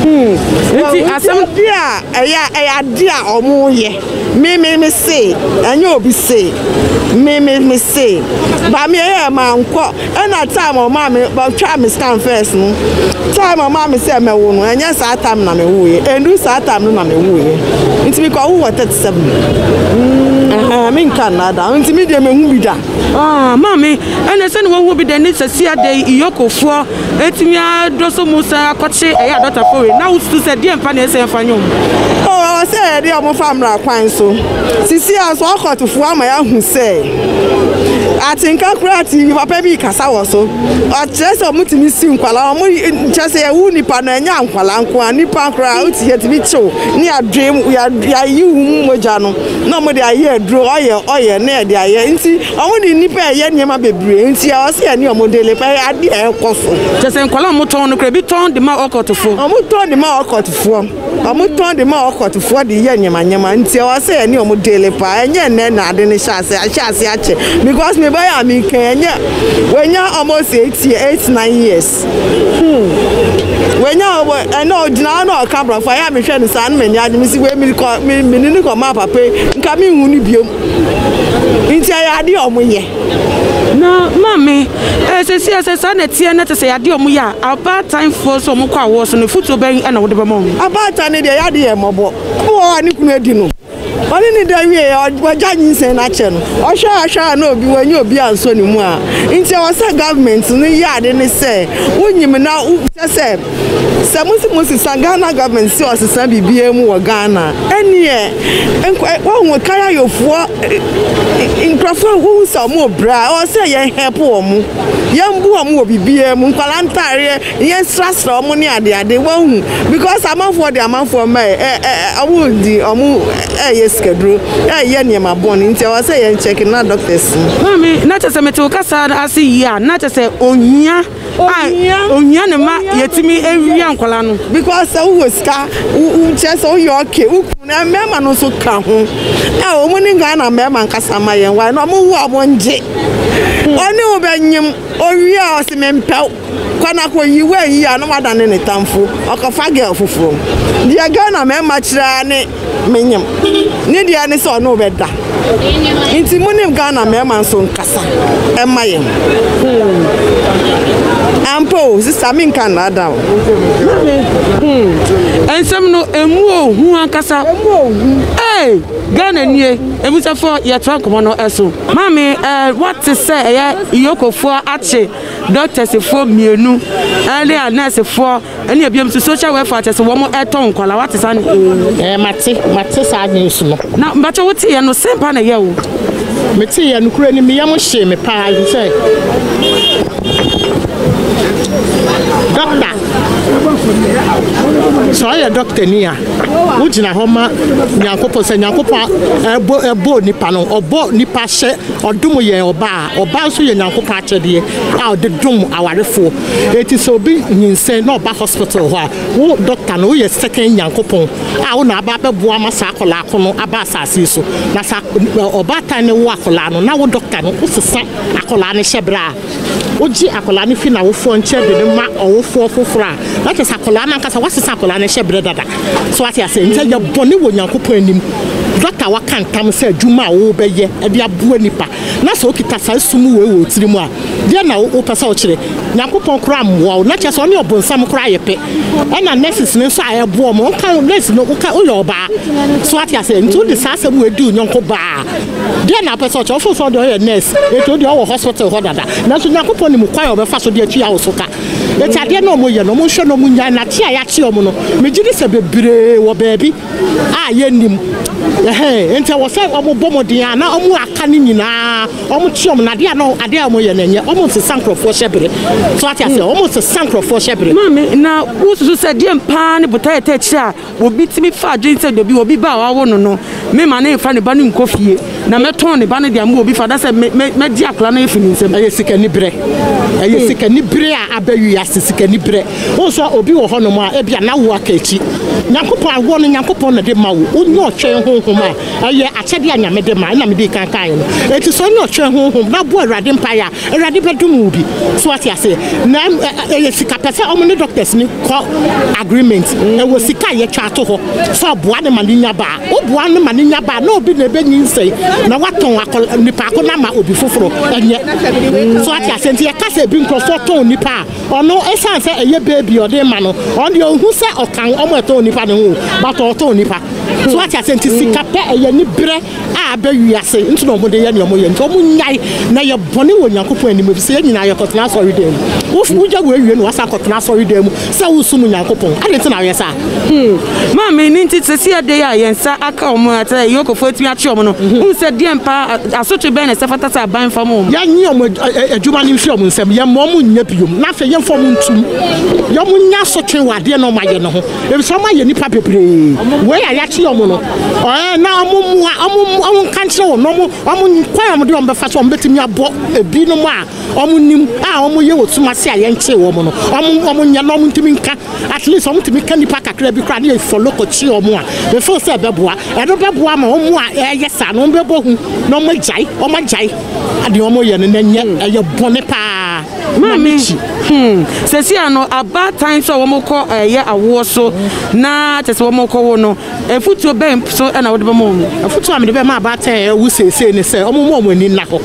Hmm. Nti asɛm bi a ɛyɛ ɛyɛ adeɛ a ɔmo yɛ. Me me me se, ɛnyɛ obi se. Me me me se, ba me ɛyɛ ma nkɔ. Ɛna time ɔma me, ɔtwa me scan first no. Time ɔma me sɛ mɛwo no, ɛnyɛ saa time na me woeɛ. Ɛndu saa time no na me woeɛ. Nti me kɔ wo wɔ 37. Mm, me nka nna da. Nti me deɛ me hu bi da. Ah, maame, ɛna sɛ ne wɔhu bi da ne sɛsi adɛ iyɔkofoɔ Etumi ara do so mu san akɔkye ɛyɛ adɔtafo we na wosusu sɛ deɛ mpa na ɛsɛ yɛmfa nyɛ wɔn. O, ɛwɔ sɛ yɛde wɔn fa mmara kwan so. Sisi ara nso ɔkɔtofo ama yɛahu sɛ atenka koraa te nnipa pa bi kasa wɔ so. Ɔkyerɛ sɛ wɔtumi si nkwadaa, wɔn kyerɛ sɛ yɛwo nnipa no ɛnyɛ nkwadaa nko ara, nnipa koraa wote yɛtumi kyew ne yɛadwe yɛayi wɔn mu mogya no na wɔde ayɛ aduro, ɔyɛ ɔyɛ na yɛde ayɛ nti. Wɔn de nnipa ɛyɛ nneɛma bebree nti a ɔsɛ ɛne wɔn de lepa ɛyɛ adeɛ a ɛkɔ so. Kyɛ sɛ nkwadaa a wɔn tɔn no kura ebi tɔn de ma ɔkɔtofo. Wɔn tɔn de ma ɔkɔtofoɔ. Wɔn tɔn de ma ɔkɔtofoɔ de yɛ nneɛma nneɛma nti a ɔsɛ ɛne wɔn de lepa ɛnyɛ ɛnɛ na ade no hyɛ ase ahyɛ ase akyɛ because me ba yɛ a me kan ɛnyɛ wɔnya almost eight year eight nine years hmm wɔnya ɔwɔ ɛna ɔgyina hɔ na ɔka aborɔfo ayɛ a mehwɛ no saa no m'ani agye me si wei me kɔ me me ne ne kɔ maa papa yi nka me nhu no bio. Nti ɛyɛ adeɛ a ɔmo yɛ. Na maame, ɛɛ seesei a sɛ saa na ɛteɛ na tesɛ ɛyɛ adeɛ a ɔmo yɛ a, abaatanfoɔ nso a ɔmo kɔ awoɔ so no, afutuo bɛn na wode bɛma ɔmo? Abaatan no deɛ yade yɛ mmɔbɔ. Obi wɔ hɔ a ne kunu adi no, ɔne no da wie a, wagya nyinsɛn no akyɛ no. Ɔhwɛ a hwɛ a na obi wanyɛ obi ansɔ ne mu a. Nti ɛwɔ sɛ government no yɛ ade no sɛ, wonyim na wo, sɛ sɛ. Sɛ mo se mo sesa Ghana government se ɔsesa biribiara mu wɔ Ghana ɛneɛ wahu Karayofoɔ nkurɔfoɔ wohu sɛ ɔmo bra ɔwɔ sɛ yɛn help ɔmo yɛn bu ɔmo wɔ biribiara mu nkwalaa ntaareɛ yɛn srasra ɔmo ne adeade wahu because amanfoɔ de amanfoɔ mma ɛ ɛ ɔmo di ɔmo ɛyɛ sikaduro ɛyɛ nneɛma bɔn nti ɔwɔ sɛ yɛn check na doctors. Maame na kyɛ sɛ mete wo kasa ase yie a na kyɛ sɛ ohia ohia ohia ne ma yɛtumi awia nkwadaa no. because sɛ wowɔ sika wokyerɛ sɛ woyɛ ɔke wo kunu na mmarima no nso ka ho a wɔn ne ghana mmarima nkasa ma yɛn wae na wɔn wo a wɔn gye ɔne wo bɛnyem owie a ɔsi me mpɛw kwanako yi wɔn yi a na wadane ne tamfo ɔkɔfa girl foforɔ deɛ ghana mmarima kyerɛ ne menyem ne deɛ ne sɛ ɔne wo bɛda nti mo ne Ghana mmarima nso nkasa ɛma yɛn hmm. ampa o sista menka nnaada o hmm. nsɛm no ɛmu ohu ankasa ee Ghana nie ɛmusɛfoɔ yɛtoa nkɔmmɔ no ɛso maame ɛɛ wɔte sɛ ɛyɛ iyokofoɔ akye dɔktɛsifoɔ mmienu ɛne a nɛɛsifoɔ ɛne abiam nso social welfare kyɛ sɛ wɔn ɛtɔ nkwadaa wate saa ne ee. ɛɛ mate mate saa news no. na mbɛkyɛ wote yɛ no sɛn paa na ɛyɛ o. mete yɛ no kura ni meyɛ mo hyee me paa sɛ dɔkta sɛ ɔyɛ dɔkta ni a wogyina hɔ ma nyankopɔn sɛ nyankopɔn ɛbɔ ɛbɔ nipa no ɔbɔ nipa hyɛ ɔdom yɛn ɔbaa ɔbaa nso yɛ nyankopɔn akyɛdeɛ a ɔde dom awarefoɔ Enti sɛ obi nyinsɛn na ɔba hospital hɔ a, wo doctor no, woyɛ second Nyankopɔn a wo na aba abɛboa ama saa akwadaa ko no aba asase yi so. Na sɛ ɔbaatan no wo akwadaa no, na wo doctor no, wosesa akwadaa no hyɛ berɛ a wogye akwadaa no fi n'awofoɔ nkyɛn de no ma ɔwofoɔ foforɔ a, na kyerɛ sɛ akwadaa no ankasa, woasesa akwadaa no hyɛ berɛ dada. So wate aseɛ? Enti ɛyɛ bɔne wɔ Nyankopɔn anim. Doctor waka ntam sɛ adwuma a worebɛyɛ de aboa nipa Na sɛ okita saa esum wei wɔ wo tirim a, deɛn na wopɛ sɛ wokyerɛ? Nyankopɔn koraa mmoa wo, na kyerɛ sɛ ɔne ɔbonsam koraa yɛ pɛ. Ɛna nurses no nso a ɛboa wɔn, woka wo nurse no, woka woyɛ ɔbaa. So wate aseɛ? Nti wode saa asɛm wei di wo yɔnko baa a, deɛn na wopɛ sɛ ɔkyerɛ? Wofo sɛ ɔdeɛ ɔyɛ nurse, enti odeɛ ɔwɔ hospital hɔ dada. Nanso Nyankopɔn nim kwan a ɔbɛfa so de atua wo so ka. Enti adeɛ no a wɔyɛ no, wɔnhwɛ na wɔnnyae, na kye a yɛakye wɔn no, megye di sɛ bebree wɔ baabi, a yɛnnim. Ɛhɛn, enti ɛwɔ sɛ wɔbɔ mmɔden a na wɔaka no nyinaa, wɔte wɔn, na adeɛ a na adeɛ a wɔyɛ no ɛnyɛ, wɔnsesa nkurɔfoɔ hyɛ bere. So ate aseɛ? Wɔnsesa nkurɔfoɔ hyɛ bere. Maame, na wosusu sɛ deɛn paa ne botaeɛ tɛkyerɛ a obi tumi fa adwene sɛ da bi obi ba a wɔawo no no, memma no mfa ne ba no nkɔ fie? Na mɛtɔn ne ba no de ama obi fa da sɛ me, me, mɛgye akwadaa no afi ne nsam. Ɛyɛ sikaniberɛ. Ɛyɛ hmm. sikaniberɛ a aba wiase, sikaniberɛ. Wohu sɛ obi wɔ hɔnom a, ebia na wo aka akyi. Nyankopɔn awoɔ no, Nyankopɔn na de ma wo. Wonyɛ ɔtwɛn honhom a, ɛyɛ akyɛdeɛ a Nyame de ma, ɛna mede kankaeɛ no. Enti sɛ wonyɛ ɔtwɛn honhom na bɔ Awurade mpaeɛ a, Awurade bɛdom wo bi. So wate aseɛ? Na ɛyɛ sika pɛ sɛ ɔmo ne doctors ni kɔ agreement. Ɛwɔ sika a yɛtwa ato hɔ sɛ ɔboa ne ma ne nya baa. Woboa no ma no nya ba a, na obi na ebenyinsɛn na watɔn akɔ nipaako no ama obi foforo. Ɛnyɛ. So ate aseɛ? Nti yɛka sɛ ebi nkurɔfoɔ tɔn nipa a, ɔno esiane sɛ ɛyɛ baby a ɔde rema no, ɔno deɛ onhu sɛ ɔkan wɔn a ɛtɔn nipa no ho o, but ɔretɔn nipa. So ate aseɛ? Nti sika pɛ, ɛyɛ aniberɛ a aba wiase nti na wɔde yɛ nea wɔyɛ. Nti wɔnnyae na ɛyɛ bɔne wɔ Onyankopɔn anim efisɛ yɛn nyinaa yɛkɔtena asɔredan mu. Wo, wogya wo awie na wasan akɔtena asɔredan mu Sɛ wosom Onyankopɔn, adɛn nti na wɔyɛ saa? Hmm. Maame, ɛno nti sɛsi ɛda yi a yɛn nsa aka wɔn a sɛ Yokofoɔ atumi akye wɔn no, mhm. wohu sɛ deɛn paa asotwe bɛn na ɛsɛ fata sɛ aban fa ma wɔn? Yɛnye wɔn adwuma no mfiri wɔn nsam, yɛmma wɔn nyɛ biom, na afei yɛmfa wɔn ntum. Wɔn nya asotwe wɔ adeɛ na wɔn ayɛ no ho, efisɛ wɔn ayɛ nipa bebree. Wei a yɛakye wɔn no, ɛɛ na wɔn mmoa, wɔn nka nkyerɛ wɔn, wɔn kwan a wɔn de wɔn bɛfa so, wɔn bɛtumi abɔ ebinom a wɔn nim a wɔn yɛ wɔ sum ase a yɛn kyee wɔn no wɔn wɔn nyɛ na wɔn ntumi nka at least wɔn ntumi ka nipa kakra bi koraa ne yɛ fɔlo kɔ kyi wɔn a efo sɛ ɛbɛboa ɛno bɛboa ma wɔn a ɛyɛ saa no wɔn bɛbɔ hu na wɔn agyae wɔn agyae adeɛ wɔn yɛ no na nyɛ ɛyɛ bɔne paa na ne kyi. Hmm. sɛsi ano abaatan so a wɔn kɔ ɛyɛ eh, awoɔ so na kyɛ sɛ wɔn kɔ wo no Afotuo bɛn so na wode bɛma wɔn? Afotuo a mede bɛma abaatan a awu seesei ne sɛ wɔmma wɔn ani nna hɔ.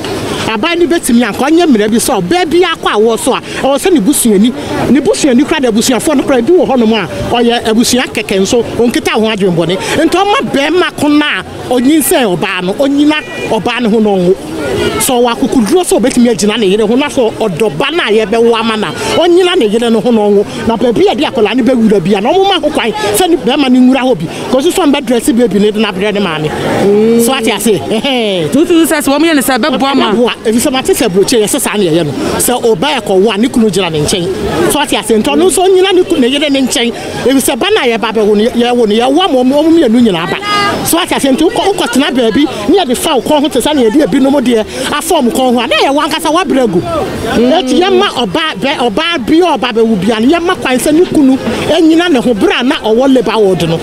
Aban no bɛtumi anka, ɔnyɛ mmara bi sɛ ɔbaa biara kɔ awoɔ so a, ɛwɔ sɛ ne busuani, ne busuani koraa anaa abusuafoɔ no koraa, ebi wɔ hɔnom a ɔyɛ abusua kɛkɛ nso ɔnkita ho adwenbɔne, nti ɔmma barima ko no a ɔnyinsɛn ɔbaa no, ɔnyina ɔbaa no ho na ɔnwo. Sɛ ɔwɔ akokoduro sɛ ɔbɛtumi agyina ne yere ho na sɛ ɔdɔ ba no a yɛrebɛwo ama no a, ɔnyina ne yere no ho na ɔnwo. Na baabi a yɛde akwadaa no bɛwura bia na wɔma ho kwan sɛ ne bɛrima no nwura hɔ bi kɔsi so a mbɛdrɛse beebi no de no abrɛ ne maame mm. so ate ase ɛhɛn. tuntun sɛ sɛ wɔyɛ no sɛ ɛbɛboa ma. ɛbɛboa efisɛ mate sɛ aburokyi yɛsɛ saa na yɛyɛ no sɛ ɔbaa ɛkɔwo a ne kunu gyina ne nkyɛn so ate ase nti ɔno nso ɔnyina ne kunu ne yere ne nkyɛn efisɛ ba no a yɛba bɛwo no yɛwo no yɛwo ama ɔmo mmienu nyinaa ba so ate ase nti wokɔ wokɔtena baabi Nea ɛde fa wo kɔn ho te sɛ nea yɛde ebinom deɛ afa wɔn kɔn ho a, na ɛyɛ wɔn ankasa wɔabrɛ agu. Enti yɛmma ɔbaa bɛ, ɔbaa bi a ɔba abɛwo biara no, yɛmma kwan sɛ ne kunu nnyina ne ho. Bere a na ɔwɔ labour ward no,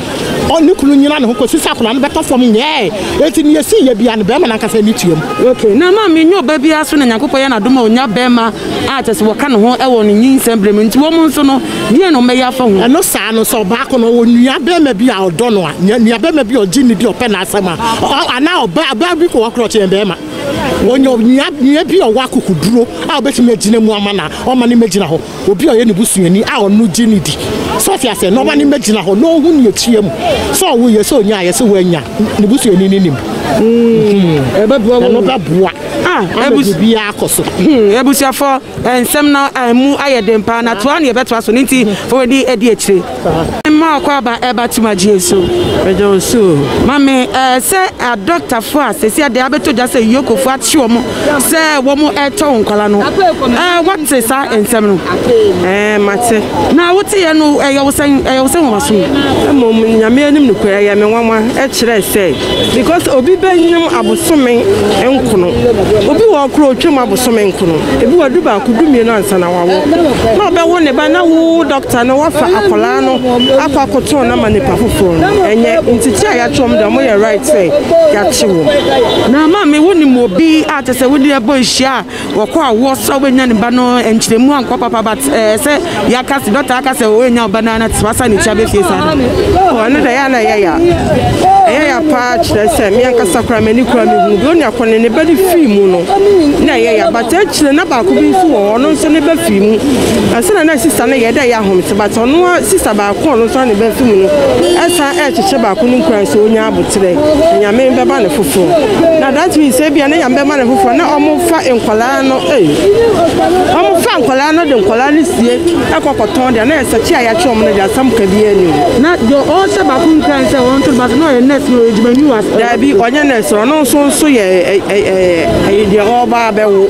ɔne ne kunu nyinaa ne ho kɔsi sɛ akwadaa no bɛtɔ fam nyɛe. Enti nea esii yɛ biara no, barima no ankasa ani tuam. Okay, na maame nnya ɔba biara so na Nyankopɔn yɛ no adom a ɔnya barima a kyerɛ sɛ wɔka ne ho wɔ ne nyinsɛn bere mu. Enti wɔn nso no, Deɛn na wɔbɛyɛ afa ho? Ɛno saa no, sɛ ɔbaako no ɔwɔ nuabarima bi a ɔdɔ no a, nua, nuabarima bi a ɔgye no di, ɔpɛ n'asɛm a, ɔ, anaa ɔbaa, ɔbaa bi mpo wɔ hɔ koraa a ɔkyɛn barima, ɔnya onua, nua bi a ɔwɔ akokoduro a ɔbɛtumi agyina mu ama no a, ɔma no mmɛgyina hɔ, obi a ɔyɛ ne busuani a ɔno gye no di. So ɔte aseɛ? Na ɔma no mmɛgyina hɔ, na ɔhu nea ɛkyia mu. Sɛ ɔwoeɛ, sɛ ɔnyaeɛ, sɛ wannya, ne busuani no nim. Mm-hmm. Ɛbɛboa wɔn. Ɛno bɛboa. Ah, ama biribiara akɔ so. Hmm, abusuafoɔ, Nsɛm no a emu ayɛ den paa na toa ne yɛbɛtoa so no nti fa w'ani adi akyire. Mma ɔkwaaba ɛba tum agyeɛ so. Meda wo se o. Mame ɛɛ sɛ adɔkta foɔ a sɛsi adɛɛ abɛtɔ gya sɛ Yoko foɔ akye wɔn sɛ wɔn ɛɛtɔ wo nkwala no ɛɛ wate saa nsɛm no? Ɛɛ mate. Na wo teeɛ no ɛyɛ wo sɛn? Ɛyɛ wo sɛ nwanwaso? Mmom Nyame anim nokorɛ ɛyɛ me nwanwa ɛkyerɛɛ sɛ. Because obi bɛ nyam abosome nkono obi wɔ koro otwam abosome nkono ebi wɔ du baako du mmienu ansa na wawo na ɔbɛwo ne ba na wo dɔkta no wafa akwadaa no akɔ akoto na ma nipa foforɔ no ɛnyɛ ntete a yɛakyɛ wɔn deɛ wɔn yɛ right sɛ yɛakye wɔn. Na maame wo nim obi a kyɛ sɛ wo ne ɛbɔ nhyia a wɔkɔ awoɔ so a wobɛnya ne ba no nkyerɛmu ankɔ papa but ɛɛ sɛ yɛaka sɛ dɔkta aka sɛ wɔnya wo ba no ana tena sa ne tia bɛfie saa no ɛno da yɛ na ɛyɛ ya ɛyɛ ya paa kyerɛ sɛ me ankasa koraa m'ani koraa mehu bi ɔne akɔ ne ne ba no fii mu no na ɛyɛ ya but akyire na baako bi nso wɔ hɔ ɔno nso ne ba fii mu ɛsɛ na sista no yɛ dɛ yɛ ahomte but ɔno sista baako ɔno nso ne ba fii mu no ɛsan ɛrekyekyɛ baako no nkura nso ɔnya kyerɛ nyame bɛma no foforɔ na that means sɛ bia ne nyame bɛma no foforɔ na ɔmofa nkwadaa no ei ɔmofa nkwadaa no de nkwadaa no sie ɛkɔ kɔtɔn deɛ na yɛ sɛkye a yɛakyɛ ɔmo no deɛ asɛm ka biara ni o na deɛ ɔhyɛ baako nkura ne sɛ ɔnto no baako na ɔyɛ nurse no adwuma ni wa daabi ɔnyɛ nurse ɔno nso nso yɛ ɛyɛ deɛ ɔba abɛwo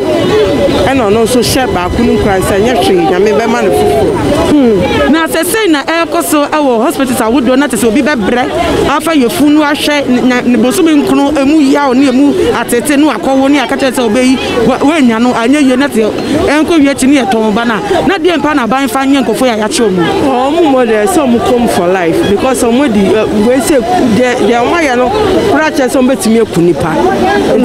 ɛna ɔno nso hyɛ baako Hunu nkoransa ɛnyɛ hwee Nyame bɛma no foforɔ. Hmm. Na sɛ sei na ɛrekɔ so wɔ hospitals ahodoɔ na te sɛ obi bɛbrɛ afa yɛfu no ahwɛ na ne bosome nkono ɛmu yaw ne ɛmu atete no akɔwo ne akakyɛ sɛ ɔbɛyi wɔanya no anyɛ yie na te ɛnkɔ wie akyi ne yɛtɔn ba no a na deɛ mpa na aban fa nyɛ nkɔfoɔ yɛ ayɛkye ɔmu. Ɔmu mmɔ dɛ sɛ ɔmu kɔm for life because ɔmu di wei sɛ deɛ deɛ ɔmu ayɛ no koraa kyerɛ sɛ ɔmu bɛtumi aku nipa.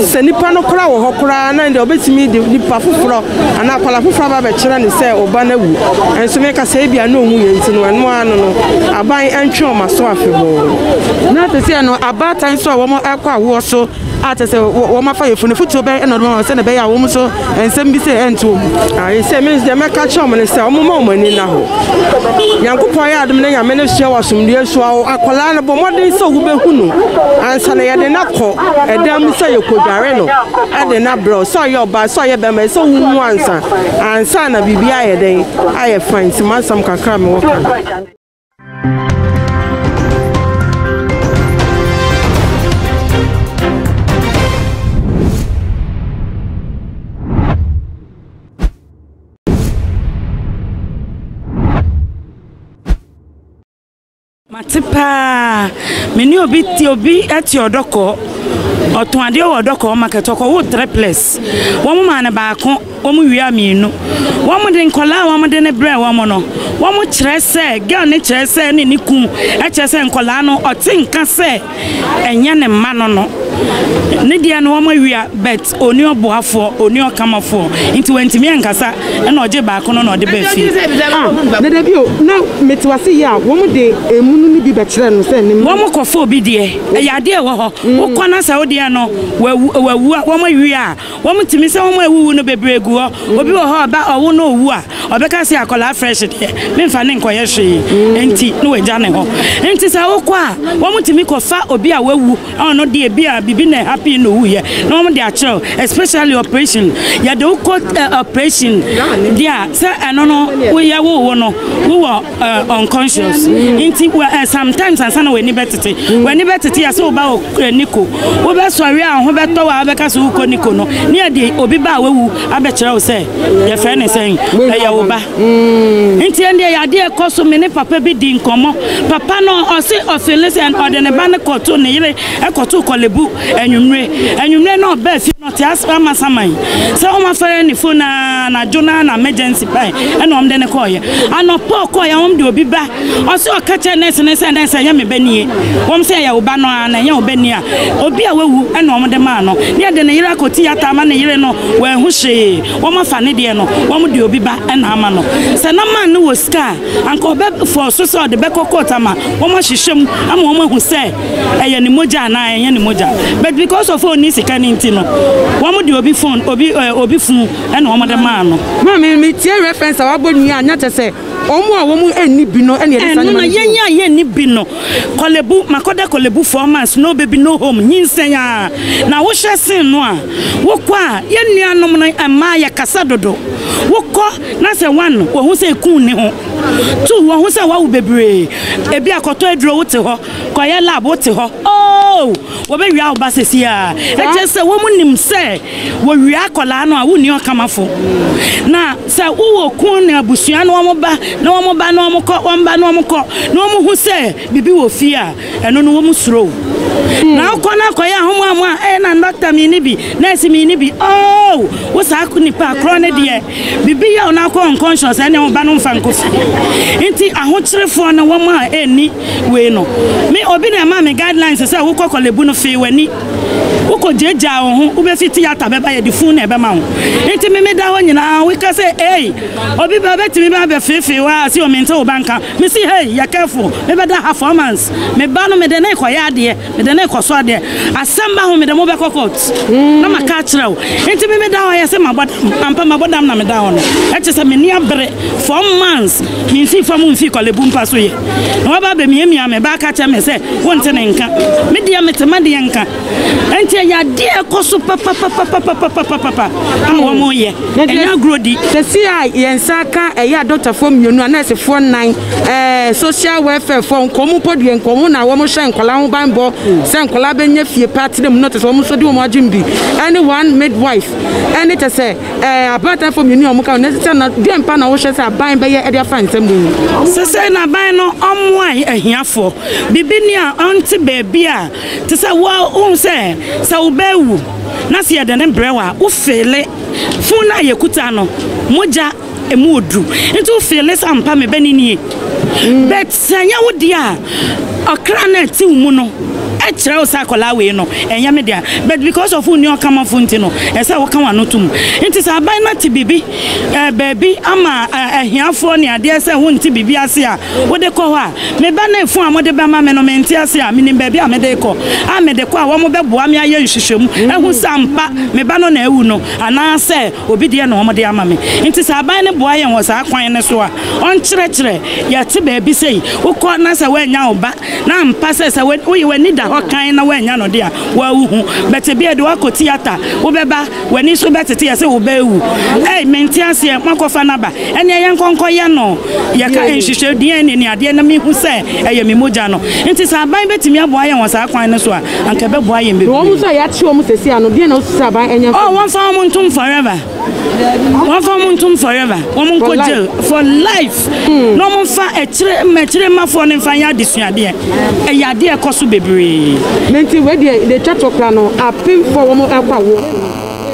Sɛ nipa no koraa wɔ hɔ koraa na deɛ ɔbɛtumi de nipa foforɔ Anaa akwadaa foforɔ aba abɛkyerɛ no sɛ ɔba no awu, nso meka sɛ ebia na ɔwuiɛ nti no ɛno ara no no, aban ntwe wɔn aso afebɔɔ. Na te sɛ no, abaatan nso a wɔkɔ awoɔ so a kyerɛ sɛ wɔafa yafunu, fotuo bɛn na ɔde bɛma wɔn sɛdeɛ ɛbɛyɛ a wɔn nso nsɛm bi sɛ ɛnto wɔn mu? Ayi sɛ me nso deɛ mɛka kyerɛ wɔn ne sɛ wɔn mma wɔn ani nna hɔ. Nyankopɔn yɛ adom na nyame no sua wɔ asomdwoeɛ so awo akwadaa no bɔ mmɔden sɛ wobɛhu no ansa na yɛde no akɔ ɛdan mu sɛ yɛkɔdware no ɛde no Brɛw, sɛ ɔyɛ ɔbaa sɛ ɔyɛ bɛma ɛsɛ wo mu ansa ansa na biribi ayɛ dɛn ayɛ fine nti masɛm kakra mewɔ ka. Mate paa. Me ne obi te obi te ɔdɔkɔ. Ɔtɔn adeɛ wɔ ɔdɔkɔ market ɔkɔ wo triplets. Wɔn maa no baako, wɔn wia mmienu. Wɔn de nkɔlaa wɔn de ne brɛ wɔn no. Wɔn kyerɛ sɛ girl ne kyerɛ sɛ ne ne kun kyerɛ sɛ nkɔlaa no ɔte nka sɛ. Ɛnyɛ ne mma no no. Ne deɛ no wɔawia but ɔni ɔboafoɔ, ɔni ɔkamafoɔ nti wantumi ankasa ɛna ɔgye baako no na ɔde baa fie. Ah, dada bi o, na mete wase yie a wɔn de emunu no bi bɛkyerɛ no sɛ ne mma. Wɔn kɔfa obi deɛ, ɛyɛ adeɛ a ɛwɔ hɔ, wokɔ na sɛ wo deɛ no wawu a wɔawia a. Wɔn tumi sɛ wɔn a awuwu no bebree gu hɔ. Obi wɔ hɔ a ɔba ɔwo na owu a, ɔbɛka sɛ akwadaa fresh deɛ, memfa no nkɔyɛ hwee, enti na wagya ne hɔ. Enti sɛ wokɔ a, wɔn tumi kɔfa obi a wawu a ɔno deɛ ebia biribi na ɛhappenii na owuiɛ na wɔn de akyerɛ wo, especially operation. Yɛde wo kɔ operation deɛ a, sɛ ɛno no woyɛ wowo no, wowɔ. uh, unconscious nti uh, eh, sometimes ansa na w'ani bɛtete mm. w'ani bɛtete yɛ sɛ woba wɔ eh, niko wobɛsɔre a ho bɛtɔ wɔ a wobɛka sɛ wokɔ niko no ne yɛde obi ba a wawu abɛkyerɛ wo sɛ yɛfrɛ ne sɛn ɛyɛ wo ba mm. nti ɛndeɛ yɛadeɛ ɛkɔ so me ne papa bi di nkɔmmɔ papa no ɔse ɔfele sɛ ɔde ne ba no kɔto ne yere ɛkɔto kɔlebu anwummere anwummere na ɔbaa fie no Teasepa Amasaman sɛ wɔn afɛrɛ ne fon a anadwo no na emergency bae ɛna wɔn de no kɔɔeɛ. Anɔpa ɔkɔɔeɛ wɔn de obi ba ɔsɛ ɔka kyerɛ nɛɛse no sɛ nɛɛse ɛnyɛ me ba nie. Wɔn sɛ ɛyɛ wo ba no ara na ɛnyɛ wo ba nie a obi a wawu ɛna wɔn de maa no. Ne ɛde ne yere akɔ tiyata ama ne yere no wanhu hwee. Wɔn afa ne deɛ no wɔn de obi ba ɛna ama no. Sɛ na man no wɔ sika a anka ɔbɛ fɔɔ so sɛ ɔde bɛkɔ court ama wɔn ahwehwɛ mu ama wɔn ahu sɛ ɛyɛ ne mogya anaa ɛnyɛ ne mogya but because of ɔnni sika no nti no wɔn de obi phone obi ɛɛ eh, obi funu ɛna wɔn de maa no. maa mi mi tie reference a wabɔ nua anya kyɛ sɛ wɔn a wɔn ɛnni bi no ɛna yɛde saa nneɛma no. ɛnna yɛn a yɛnni bi no kɔlɛbu makɔda kɔlɛbu four months no baby no home nyinsɛn a na wohyɛ sin no a wokɔ a yɛn nuanom no mmaa yɛ kasa dodo wokɔ na sɛ one wɔn ho sɛ ekun ne ho two wɔn ho sɛ wawo bebree ebi akɔtɔ aduro wote hɔ Kɔyɛ lab wote hɔ oo wɔbɛwia wo ba sɛsi a ɛkyɛ sɛ wɔn nim sɛ wɔwia akɔlaa no a wonni ɔkamafo na sɛ wowɔ kun ne abusua na wɔn ba na wɔn ba na wɔn kɔ wɔn ba na wɔn kɔ na wɔn ho sɛ biribi wɔ fie a ɛno no wɔn suro na wokɔ na akɔyɛ ahomoamoa ɛyɛ na dɔkta mi ni bi nɛɛsi mi ni bi oo wo saa nipa korɔ ne deɛ Bibi yaw no akɔ unconscious ɛne wo ba no mfa nkɔ fie nti ahokyerefoɔ no wɔn a ɛnni wei no me obi na ɛmaa me guidelines sɛ wokɔ kɔlebu no fee w'ani wokɔ gyagyaa wo ho wobɛfi tiyata bɛba yɛde fun na ɛbɛma wo nti me meda hɔ nyinaa woka sɛ ei obi ba bɛtumi ba bɛfeefee wo a sɛ omente wo ba nka Me se hey yɛ careful me bɛ da ha four months me ba no me de no rekɔ yɛ adeɛ me de no rekɔ so adeɛ asɛm ba ho me de mo bɛkɔ court na ma ka akyerɛ wo nti me me da hɔ yɛ se ma bɔ dam ampa ma bɔ dam na me da hɔ no ɛkyɛ sɛ me ni abere four months me nfi fa mo nfi kɔlebu mpa so yɛ na waba bɛ miamia me ba ka kyerɛ me sɛ wo nte ne nka me deɛ me te ma deɛ nka nti ɛyɛ adeɛ a ɛkɔ so papapapapapapapa a wɔyɛ ɛnyɛ agorɔ di. sɛsi a yɛn nsa aka ɛyɛ adɔktafoɔ mmienu a nɛɛsefoɔ nnan ɛɛ social welfare foɔ nkɔmɔ mpo deɛ nkɔmɔ na wɔn hyɛ nkɔla ho banbɔ sɛ nkɔla bɛnya fie pa tena mu no te sɛ wɔn nso de wɔn adwene bi ɛne one midwife ɛne kyɛ sɛ ɛɛ abaatafoɔ mmienu a wɔn ka wɔn sɛ na deɛ mpa na wɔhyɛ sɛ aban bɛyɛ ɛde afa nsɛm mu. sɛsɛ na aban no ɔmo a ahiafoɔ bibi ni a ɔnte baabi a. Te sɛ wo a wuhu sɛ sɛ wubewu na sɛ yɛde no brɛ wo a, wufeele. Fon no a yekuta no, mogya, emu wɔ duru. Enti wufeele sɛ ampa me bɛ no nie. But sɛ ɛnyɛ wo dea a, ɔkra no a ɛte wo mu no kyerɛ wo sɛ akwadaa wei no, ɛnyɛ me dea. But because of wunni ɔkamafo nti no, ɛsɛ sɛ woka w'ano tom. Enti sɛ aban no ate biribi, eh, baabi ama eh, ahiafoɔ ne adeɛ sɛ wonte biribi ase a, Wode kɔ hɔ a, me ba ne fon a mode bɛma me no, mente ase a menim baabi a mede rekɔ. A Mede kɔ a, wɔbɛboa me ayɛ nhwehwɛmu ahu sɛ ampa me ba no na awu no anaasɛ obi deɛ na wɔde ama me. Enti sɛ aban no boa yɛn wɔ saa kwan no so a, ɔnkyerɛkyerɛ yɛn te baabi sei, wokɔ na sɛ woannya wo ba, na ampa sɛ sɛ woyi w'ani da hɔ kann na woannya no de a, woawu ho. But ebia de woakɔ theatre, wobɛba W'ani so bɛtete ɛ sɛ wobɛwu. Ei, mente aseɛ, moakɔfa no aba? Ɛnneɛ yɛnkɔ nkɔyɛ no. Yɛka nhwehwɛ DNA ne adeɛ na mehu sɛ ɛyɛ me mogya no. Enti sɛ aban bɛtumi aboa yɛn wɔ saa kwan no so a, anka ɛbɛboa yɛn bebree. Na wɔn nso a yɛakye wɔn seesei ano, deɛn na wosu sɛ aban nyɛ mfa mma? Oh, wɔmfa wɔn ntom forever. Wɔmfa wɔn ntom forever. Wɔn nkɔ jail for life. na wɔmfa akyire mma akyiremafoɔ no mfa nyɛ adesuadeɛ. Ɛyɛ adeɛ a ɛkɔ so bebree. Na nti wei deɛ deɛ ɛtwa toɔ koraa no, apemfoɔ a wɔrekɔ awoɔ no,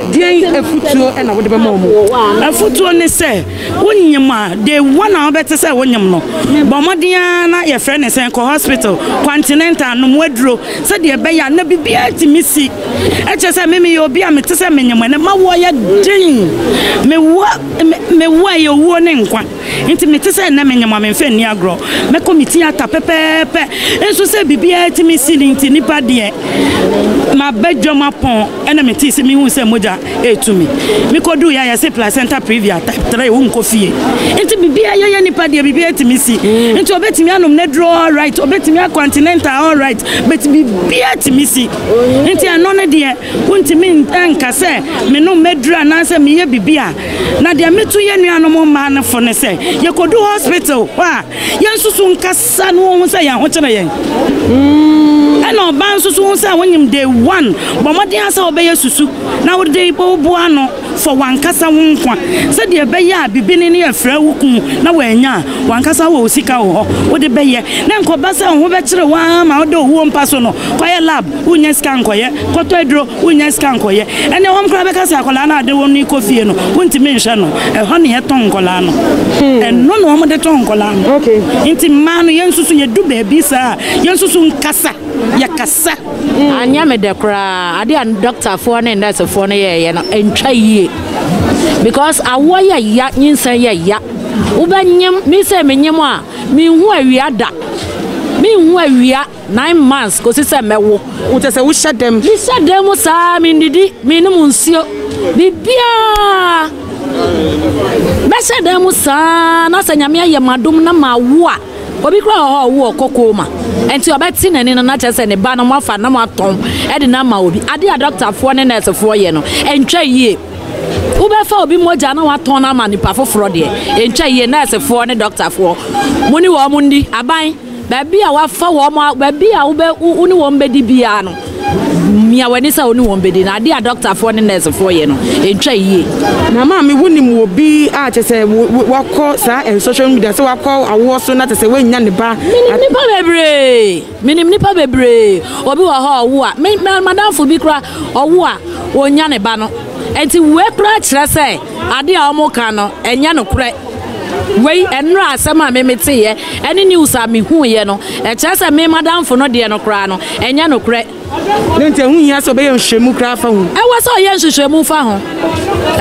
deɛn afutuo na wode bɛma wɔn? Afutuo ne sɛ, wonyem a, the one a wobɛte sɛ wonyem no, bɔ mmɔden ara na yɛfrɛ ne sɛn, kɔ hospital, continental, nom aduro sɛdeɛ ɛbɛyɛ a na biribiara atumi si. Ɛkyerɛ sɛ me meyɛ obi a mete sɛ menyem ɛnnɛ, m'awoɔ yɛ den, mewɔ Mewu a ɛyɛ owuo ne nkwa nti mete sɛ ɛnnɛ menyem a memfa nni agorɔ. Mɛkɔ me theatre pɛpɛɛpɛ nso sɛ biribiara tumi si no nti nipa deɛ maba dwam apɔn ɛna metee sɛ mehu sɛ mogya ɛretu me. Mekɔduu yɛ a yɛse placenta previa type 3 wonkɔ fie nti biribiara yɛyɛ nipa deɛ biribiara tumi si nti ɔbɛtumi anom ne duro all right ɔbɛtumi akɔ antinenta all right but biribiara tumi si nti ɛno ne deɛ Wontumi nka sɛ menom m'aduru anaasɛ meyɛ biribi a. Na deɛ meto yɛn nuanom mmaa no fo ne sɛ, yɛkɔdu hospital hɔ a, yɛnsusu nkasa na wɔnhu sɛ yɛn ho kyere yɛn. Ɛna ɔbaa nso so hu sɛ wonyim day one, bɔ mmɔden ara sɛ wobɛyɛ susu na wode boa ano. Fa w'ankasa wo nkwa sɛdeɛ ɛbɛyɛ a bibini no afira wo kunu na woannya a, w'ankasa wɔ wo sika wɔ hɔ, wode bɛyɛ. Na ɛnkɔba sɛ wo ho bɛkyere wo ara ma woda owuo mpa so no, kɔyɛ lab, wonnya sika nkɔyɛ, kɔtɔ aduro, wonnya sika nkɔyɛ. Ɛnneɛ wɔn koraa bɛka sɛ akwadaa no a wode wɔn no rekɔ fie no, wontumi nhwɛ no. Ɛhɔ na yɛtɔn nkwadaa no. Ɛno na wɔde tɔn nkwadaa no. Enti mmaa no, yɛnsusu, yɛdu baabi saa a, yɛnsusu nkasa, yɛkasa. Sɛ anyɛ me dɛ koraa a, ade a dɔktafoɔ ne nɛɛsefoɔ no yɛeɛ no antwa yie because awoɔ yɛ ya, nyinsɛn yɛ ya. Wobɛnyem, me sei menyem a, menhu awia da. Menhu awia nine months kɔsi sɛ mɛwo. Wo kyɛ sɛ wohyɛ dɛm? Mehyɛ dɛm saa, mennidi, mennom nsuo, biribiara. Mɛhyɛ dɛm saa na sɛ Nyame ayɛ m'adom na mawo a, Obi koraa wɔ hɔ a ɔwo wɔ kɔkɔɔ mu a, ɛnti ɔbɛte n'ani no na kyerɛ sɛ ne ba no moafa na moatɔn de no ama obi. Adeɛ a dɔktafoɔ ne nɛɛsefoɔ yɛ no, ɛntwa yie. Wobɛfa obi mogya na woatɔn no ama nipa foforɔ deɛ, ɛntwa yie. Nɛɛsefoɔ ne dɔktafoɔ, mo ne wɔn nni. Aban, baabi a woafa wɔn, baabi a wo ne wɔn bɛdi biara no, Mia w'ani sɛ wo ne wɔn bɛdi na adeɛ a dɔktafoɔ ne nɛɛsefoɔ yɛ no, ɛntwa yie. Na maame wonim wɔ bi a kyɛ sɛ wakɔ saa nsɔhwɛ mu da sɛ wakɔ awoɔ so na kyɛ sɛ wannya ne ba. Menim nipa bebree menim nipa bebree obi wɔ hɔ ɔwo a me madamfo bi kora ɔwo a wɔnya ne ba no nti wei kora kyerɛ sɛ adeɛ a wɔn ka no ɛnyɛ no korɛ. Wei ɛnora asɛm a me meteeɛ ɛne news a me huuiɛ no ɛkyerɛ sɛ me madamfo no deɛ no koraa no ɛnyɛ nokorɛ. Ne nti ɛho hia sɛ ɔbɛyɛ nhwehwɛmu koraa fa ho. Ɛwɔ sɛ ɔyɛ nhwehwɛmu fa ho.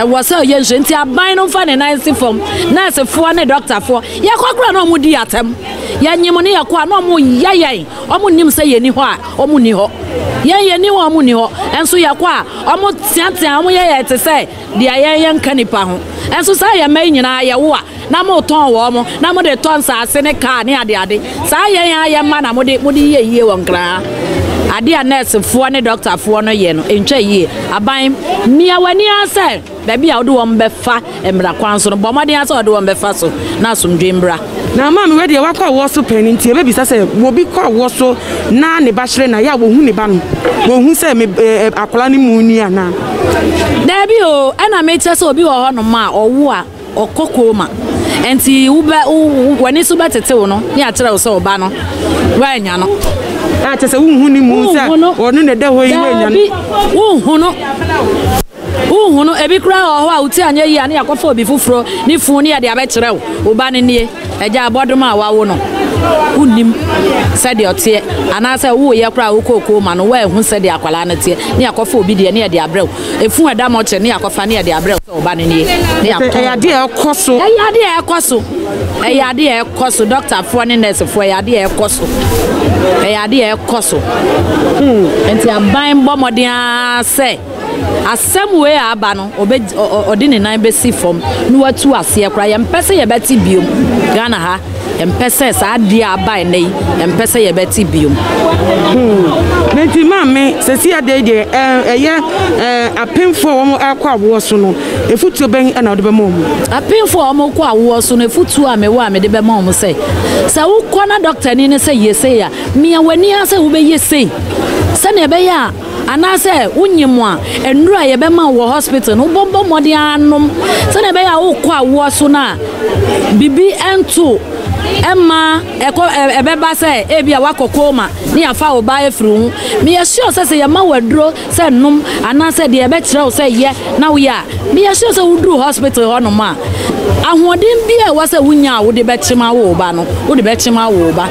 Ɛwɔ sɛ ɔyɛ nhwehwɛ nti aban no nfa ne nan nsi fam. Nɛɛsefoɔ ne dɔktafoɔ yɛkɔ koraa na wɔn di atɛm. Yɛnye mo ne yɛkɔ a na wɔn yɛ yɛn. Wɔn nnim sɛ yɛni hɔ a wɔn nni hɔ. Yɛn yɛni hɔ a wɔn nni hɔ. Nso yɛkɔ a wɔn teatea wɔn yɛ yɛn te sɛ. Deɛ yɛn yɛ nka nnipa ho. Nso saa yɛn mma yi nyinaa yɛwo a, na motɔn wɔn, na mode tɔ nsaase ne kaa ne adeade. Saa yɛn ara yɛn mma na mode, mode yɛ yie wɔ Nkranha. Adeɛ a nɛɛsefoɔ ne dɔktafoɔ no yɛ no, ɛntwa yie. Aban, mia w'ani ara sɛ baabi a wode wɔn bɛfa mmara kwan so no, bɔ mmɔden ara sɛ wɔde wɔn bɛfa so na asomdwoeɛ mmra. Na ama me wɔ deɛ wakɔ awoɔ so pɛn nti ɛbɛbisa sɛ wɔbi kɔ awoɔ so na ne ba hyerɛn na yɛ a wɔhu ne ba no wɔhu sɛ me ɛɛ akwadaa no mu ni anaa. Daabi o ɛna mekyɛ sɛ obi wɔ hɔ nom a ɔwo a ɔkɔ kooma nti wobɛ w'ani so bɛtete wo no ne akyerɛ wo sɛ wo ba no woanya no. A kyɛ sɛ wonhu ne mu sɛ ɔno na ɛda hɔ yi woanya no. Daabi wonhu no. Wonhunu, ebi koraa wɔ hɔ a wote anyɛ yie a ne yɛakɔfa obi foforɔ ne funu ne yɛde abɛkyerɛ wo, wo ba no nie, agya abɔdoma a wawo no, wonnim sɛdeɛ ɔteɛ, anaasɛ woeɛ koraa a wokɔɔ koom ma no woanhu sɛdeɛ akwadaa no teɛ, ne yɛakɔfa obi deɛ ne yɛde abrɛ wo, efunu a ɛda mɔkyere ne yɛakɔfa ne yɛde abrɛ wo sɛ wo ba no nie, ne yɛatɔn wo ba. Ɛyɛ adeɛ a ɛkɔ so. Ɛyɛ adeɛ a ɛkɔ so. Ɛyɛ adeɛ a ɛkɔ so, dɔktafoɔ ne nɛɛsefoɔ, ɛyɛ adeɛ a ɛkɔ so. Ɛyɛ adeɛ a ɛkɔ so. Nti aban bɔ mmɔden ara sɛ. Asɛm wei a aba no ɔde ne nan bɛsi fam na watu aseɛ koraa, yɛmpɛ sɛ yɛbɛte biom. Ghana ha, yɛmpɛ sɛ saa adeɛ a aba ɛnɛ yi, yɛmpɛ sɛ yɛbɛte biom. Hmm. Na nti maame, sɛsi adeɛ yi deɛ eh, ɛyɛ eh, apemfoɔ a wɔn akɔ awoɔ so no, efutuo bɛn na wɔde bɛma wɔn? Apemfoɔ a wɔn kɔ awoɔ so no, efutuo a mewɔ a mede bɛma wɔn sɛ, sɛ wokɔ na dɔktani no sɛ yɛ sei a, mia w'ani ara sɛ wobɛyɛ sei sɛnea ɛbɛyɛ a Anaasɛ wonye mo a, nnuru a yɛbɛma wo wɔ hospital no, wobɔbɔ mmɔden ara nom sɛnea ɛbɛyɛ a wokɔ awoɔ so no a, biribi nto mma ɛkɔ ɛbɛba sɛ ebi a wakɔ coma ne yɛafa wo ba afiri wo ho. Meyɛ sure sɛ sɛ yɛma wo aduro sɛ nom anaasɛ deɛ yɛbɛkyerɛ wo sɛ yɛ na woyɛ a, meyɛ sure sɛ woduru hospital hɔnom a, ahoɔden biara a ɛwɔ sɛ wonya a wode bɛkyem awo wo ba no, wode bɛkyem awo wo ba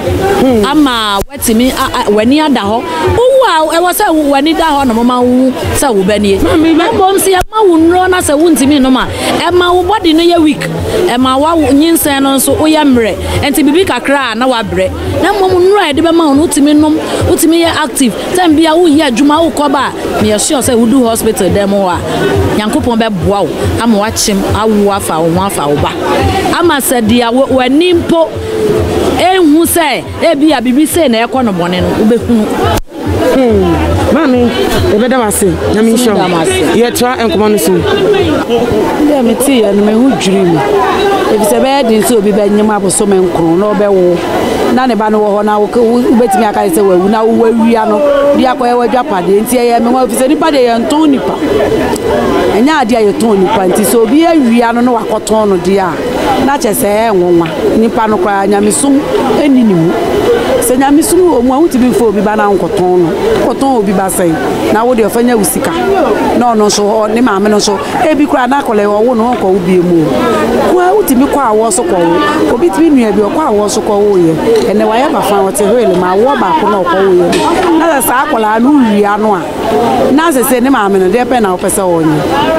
ama tumi a w'ani ada hɔ. Wowu a, ɛwɔ sɛ w'ani da hɔ na wɔma wo wu sɛ wo ba nie. Mmom sɛ yɛma wo nnuro na sɛ wontumi nnom a, ɛma wo body no yɛ weak, ɛma wo nyinsɛn no nso woyɛ mmerɛ. Ɛnti biribi kakra a na woabrɛ. Na mmom nnuro a yɛde bɛma wo no wotumi nom, wotumi yɛ active. Time bi a woyɛ adwuma, wokɔ ba a, meyɛ sure sɛ wodu hospital dan mu hɔ a, Nyankopɔn bɛboa wo ama woakyem awo afa wo ho afa wo ba. Ama sɛ deɛ w'ani mpo nhu sɛ. Ebia biribi sei na ɛkɔ no bɔne no, wobɛhunu. Maame, yɛbɛda wo ase. Nyame nhyira wo. Yɛtoa nkɔmmɔ no so. Dɛ meteeɛ no, me ho dwirii me. Efisɛ ɛbɛyɛ den sɛ obi bɛnyem abosome nkron na ɔbɛwo na ne ba no wɔ hɔ na wobɛtumi aka sɛ wawu na wowɔ awia no de akɔyɛ w'adwapadeɛ. Nti ɛyɛ me nwa efisɛ nipa deɛ yɛntɔn nipa. Ɛnyɛ adeɛ a yɛtɔn nipa nti sɛ obi awia no na wakɔtɔn no deɛ a na kyerɛ sɛ ɛyɛ nwonwa. Nipa no koraa nyamesom nni ne mu. Sɛ nyamesom wɔ mu a wotumi mfa obi ba na nkɔtɔn no. Wokɔtɔn obi ba sɛn? Na wo deɛ ɔfa nya wo sika. Na ɔno nso ne maame no nso ebi koraa na akɔlɛ ɔwo no ɔnkɔ wo bie mu. Koa wotumi kɔ awɔ so kɔ wo. Obi tumi nua bi ɔkɔ awɔ so kɔ wo yɛ. Ɛnɛ wayɛ bafa ɔte hwele ma awɔ baako na ɔkɔ wo yɛ. Na sɛ saa akɔlaa no wowie ano a. na sese ne maame no deɛ pɛ na wopɛ sɛ ɔnyɛ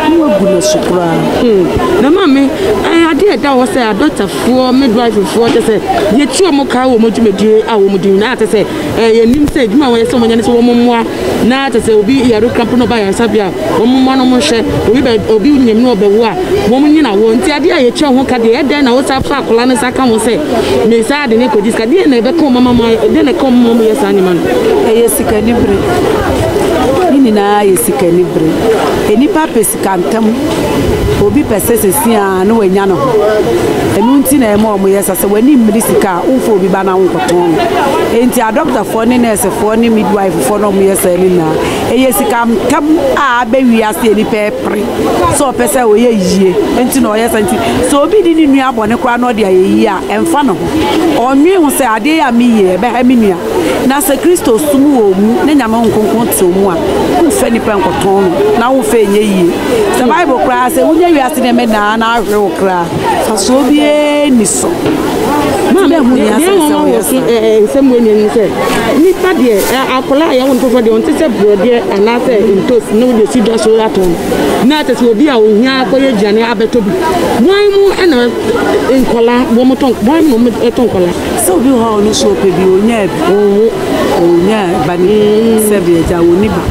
na wagu no so koraa hmm. na maame eh, adeɛ a ɛda hɔ sɛ adɔtafoɔ midwiferfoɔ kyɛ sɛ yɛtu ɔmo kaa wɔ ɔmo dwumadie a wɔn di na kyɛ sɛ eh, yɛnim sɛ adwuma a wɔyɛ sɛ wɔnyɛ no sɛ wɔn mmoa na kyɛ sɛ obi yare krampo na ɔba yɛn nsa bi a wɔn mmoa no wɔn nhyɛ obi bɛ obi nyam na ɔbɛwo a wɔn nyina wɔ nti adeɛ a yɛtwa ho ka deɛ ɛdɛn na wosa fa akwadaa no sa ka ho sɛ mesaa de ne kɔdi sika deɛ na ɛbɛka wɔn ama deɛ na ɛka wɔn ma wɔn yɛ saa nneɛma no ɛyɛ sikani bere ne nyinaa yɛ sikani bere nnipa pɛ sika ntam obi pɛ sɛ sɛsi a na wanya ne ho ɛno nti na ɛma wɔn yɛ sa sɛ w'ani mmiri sika a wofo obi ba na wonkɔtɔn no enti adɔktafoɔ ne nɛɛsefoɔ ne midwife foɔ na wɔn yɛ saa ne nyinaa ɛyɛ sika ntam a abɛwi ase nnipa ɛpere sɛ ɔpɛ sɛ ɔyɛ yie nti na ɔyɛ sɛ nti sɛ obi di ne nua bɔne koraa na ɔde ayɛ yie a ɛmfa ne ho ɔnwen ho sɛ adeɛ yɛ a meyie ɛbɛha me nua na sɛ kristo som wɔ mu ne nyame ho nkonkron te mu a womfa nipa nkɔtɔn no na womfa ɛnyɛ yie sɛ bible koraa sɛ wonya wiase nneɛma nyinaa na ahwere wo koraa fa so obiara ni so nsɛm wɔ nyɛ no sɛ nipa deɛ akwadaa a yɛwo no foforɔ deɛ ɔnte sɛ borɔdeɛ anaasɛ ntos na wode asi dwa so atɔn, na kyerɛ sɛ obi a ohia akɔyɛ aduane abɛtɔ bi. Wɔn mu na nkwadaa, wɔtɔ, wɔn mu na wɔtɔ nkwadaa. Sɛ obi wɔ hɔ a ɔno nso ɔpɛ bi, ɔnyaa bi, ɔnwo, ɔnyaa ba no bi, sɛ bi agya ɔnni ba.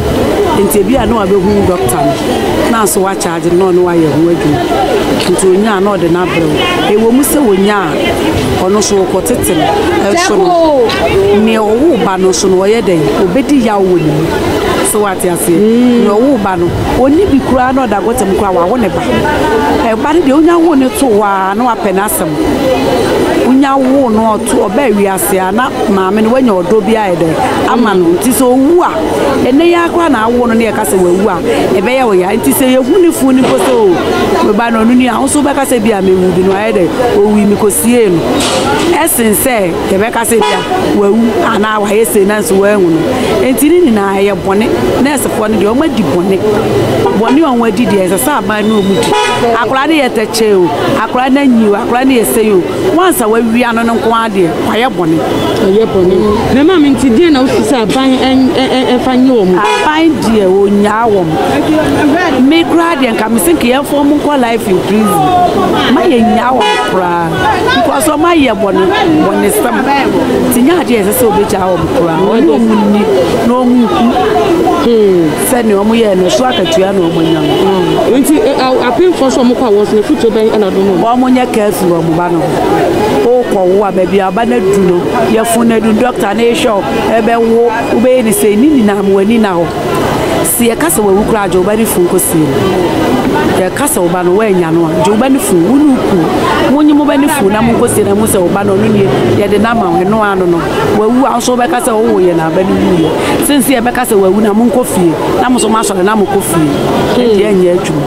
Nti ebi a na wabɛhu dɔkta no, na nso wakyagye no na ɔne wayɛ ho adwuma. Nti ɔnyaa na ɔde no abrɛ wo. Ɛwɔ mu sɛ ɔnyaa Ɔno nso ɔkɔtete no. Ɛso no, nea ɔwoo ba no nso no, ɔyɛ dɛn? Ɔbɛdi yaw wɔ ne mu. So wate aseɛ? Nea ɔwoo ba no, ɔnni bi koraa na ɔda gɔta mu koraa, wawo ne ba. Ɛba no deɛ, wonya woo no too hɔ ara na wapɛ n'asɛm. Wonya woo no a, ɔto, ɔbaa wiase a, na maame no, wanya ɔdɔ bi ayɛ dɛn? Ama no. Nti sɛ ɔwu a, ɛnnɛ yi ara koraa na awo no na yɛka sɛ wawu a, ɛbɛyɛ wo ya. Nti sɛ yɛhu no fo no mpo sɛ o, me ba na ɔno ni a wo nso wobɛka sɛ bi a mewu bi no ayɛ dɛ owui mekɔsiee no ɛsen sɛ yɛbɛka sɛ bi a wawu anaa wayɛ sei nanso wɔahu no enti ne nyinaa ɛyɛ bɔne nɛɛsefoɔ no deɛ wɔn adi bɔne bɔne a wɔn adi deɛ ɛsɛ sɛ aban ne wɔn di akwadaa no yɛ tɛkyɛ o akwadaa no anyi o akwadaa no yɛ sɛyi o wansa wawia no no nko ara deɛ wayɛ bɔne ɔyɛ bɔne na maame nti deɛ na wosi sɛ aban ɛfa nyɛ wɔn aban deɛ wɔnyaa wɔn me koraa deɛ Ka me se nka yɛmfa wɔn nkɔ life in prison ma yɛnyaa wɔn koraa because wɔn ayɛ bɔne bɔne sɛm nti nyɛ adeɛ ɛsɛ sɛ wɔbɛgyaa wɔn koraa wɔn ne wɔn nni na wɔn nku hmm. sɛdeɛ wɔn yɛɛ no so akatua na wɔn anya no. Hmm. nti apemfoɔ nso wɔn kɔ a wɔn so afutuo bɛn ɛna do no. wɔn nyɛ kaa fi wɔn ba no wokɔ wo a baabi aba no adu no yɛfo no adu dɔkta no ehwɛ wo ɛbɛwo wobɛyɛ ne sɛ ni nyinaa wɔn ani na hɔ. Sɛ yɛka sɛ wawu koraa gye wo ba no funu kɔsie no, yɛka sɛ wo ba no woannya no a, gye wo ba no funu, wo ne wo kunu, monye mo ba no funu na monkɔsie no mu sɛ wo ba no ɔno nie, yɛde no ama wo, ɛno ara no no, wawu a nso wobɛka sɛ wowo yɛ na aba no wuiɛ. Sensɛ yɛbɛka sɛ wawu na monkɔ fie, na mo nso moasɔre na mokɔ fie, ɛdeɛ ɛnyɛ adwuma.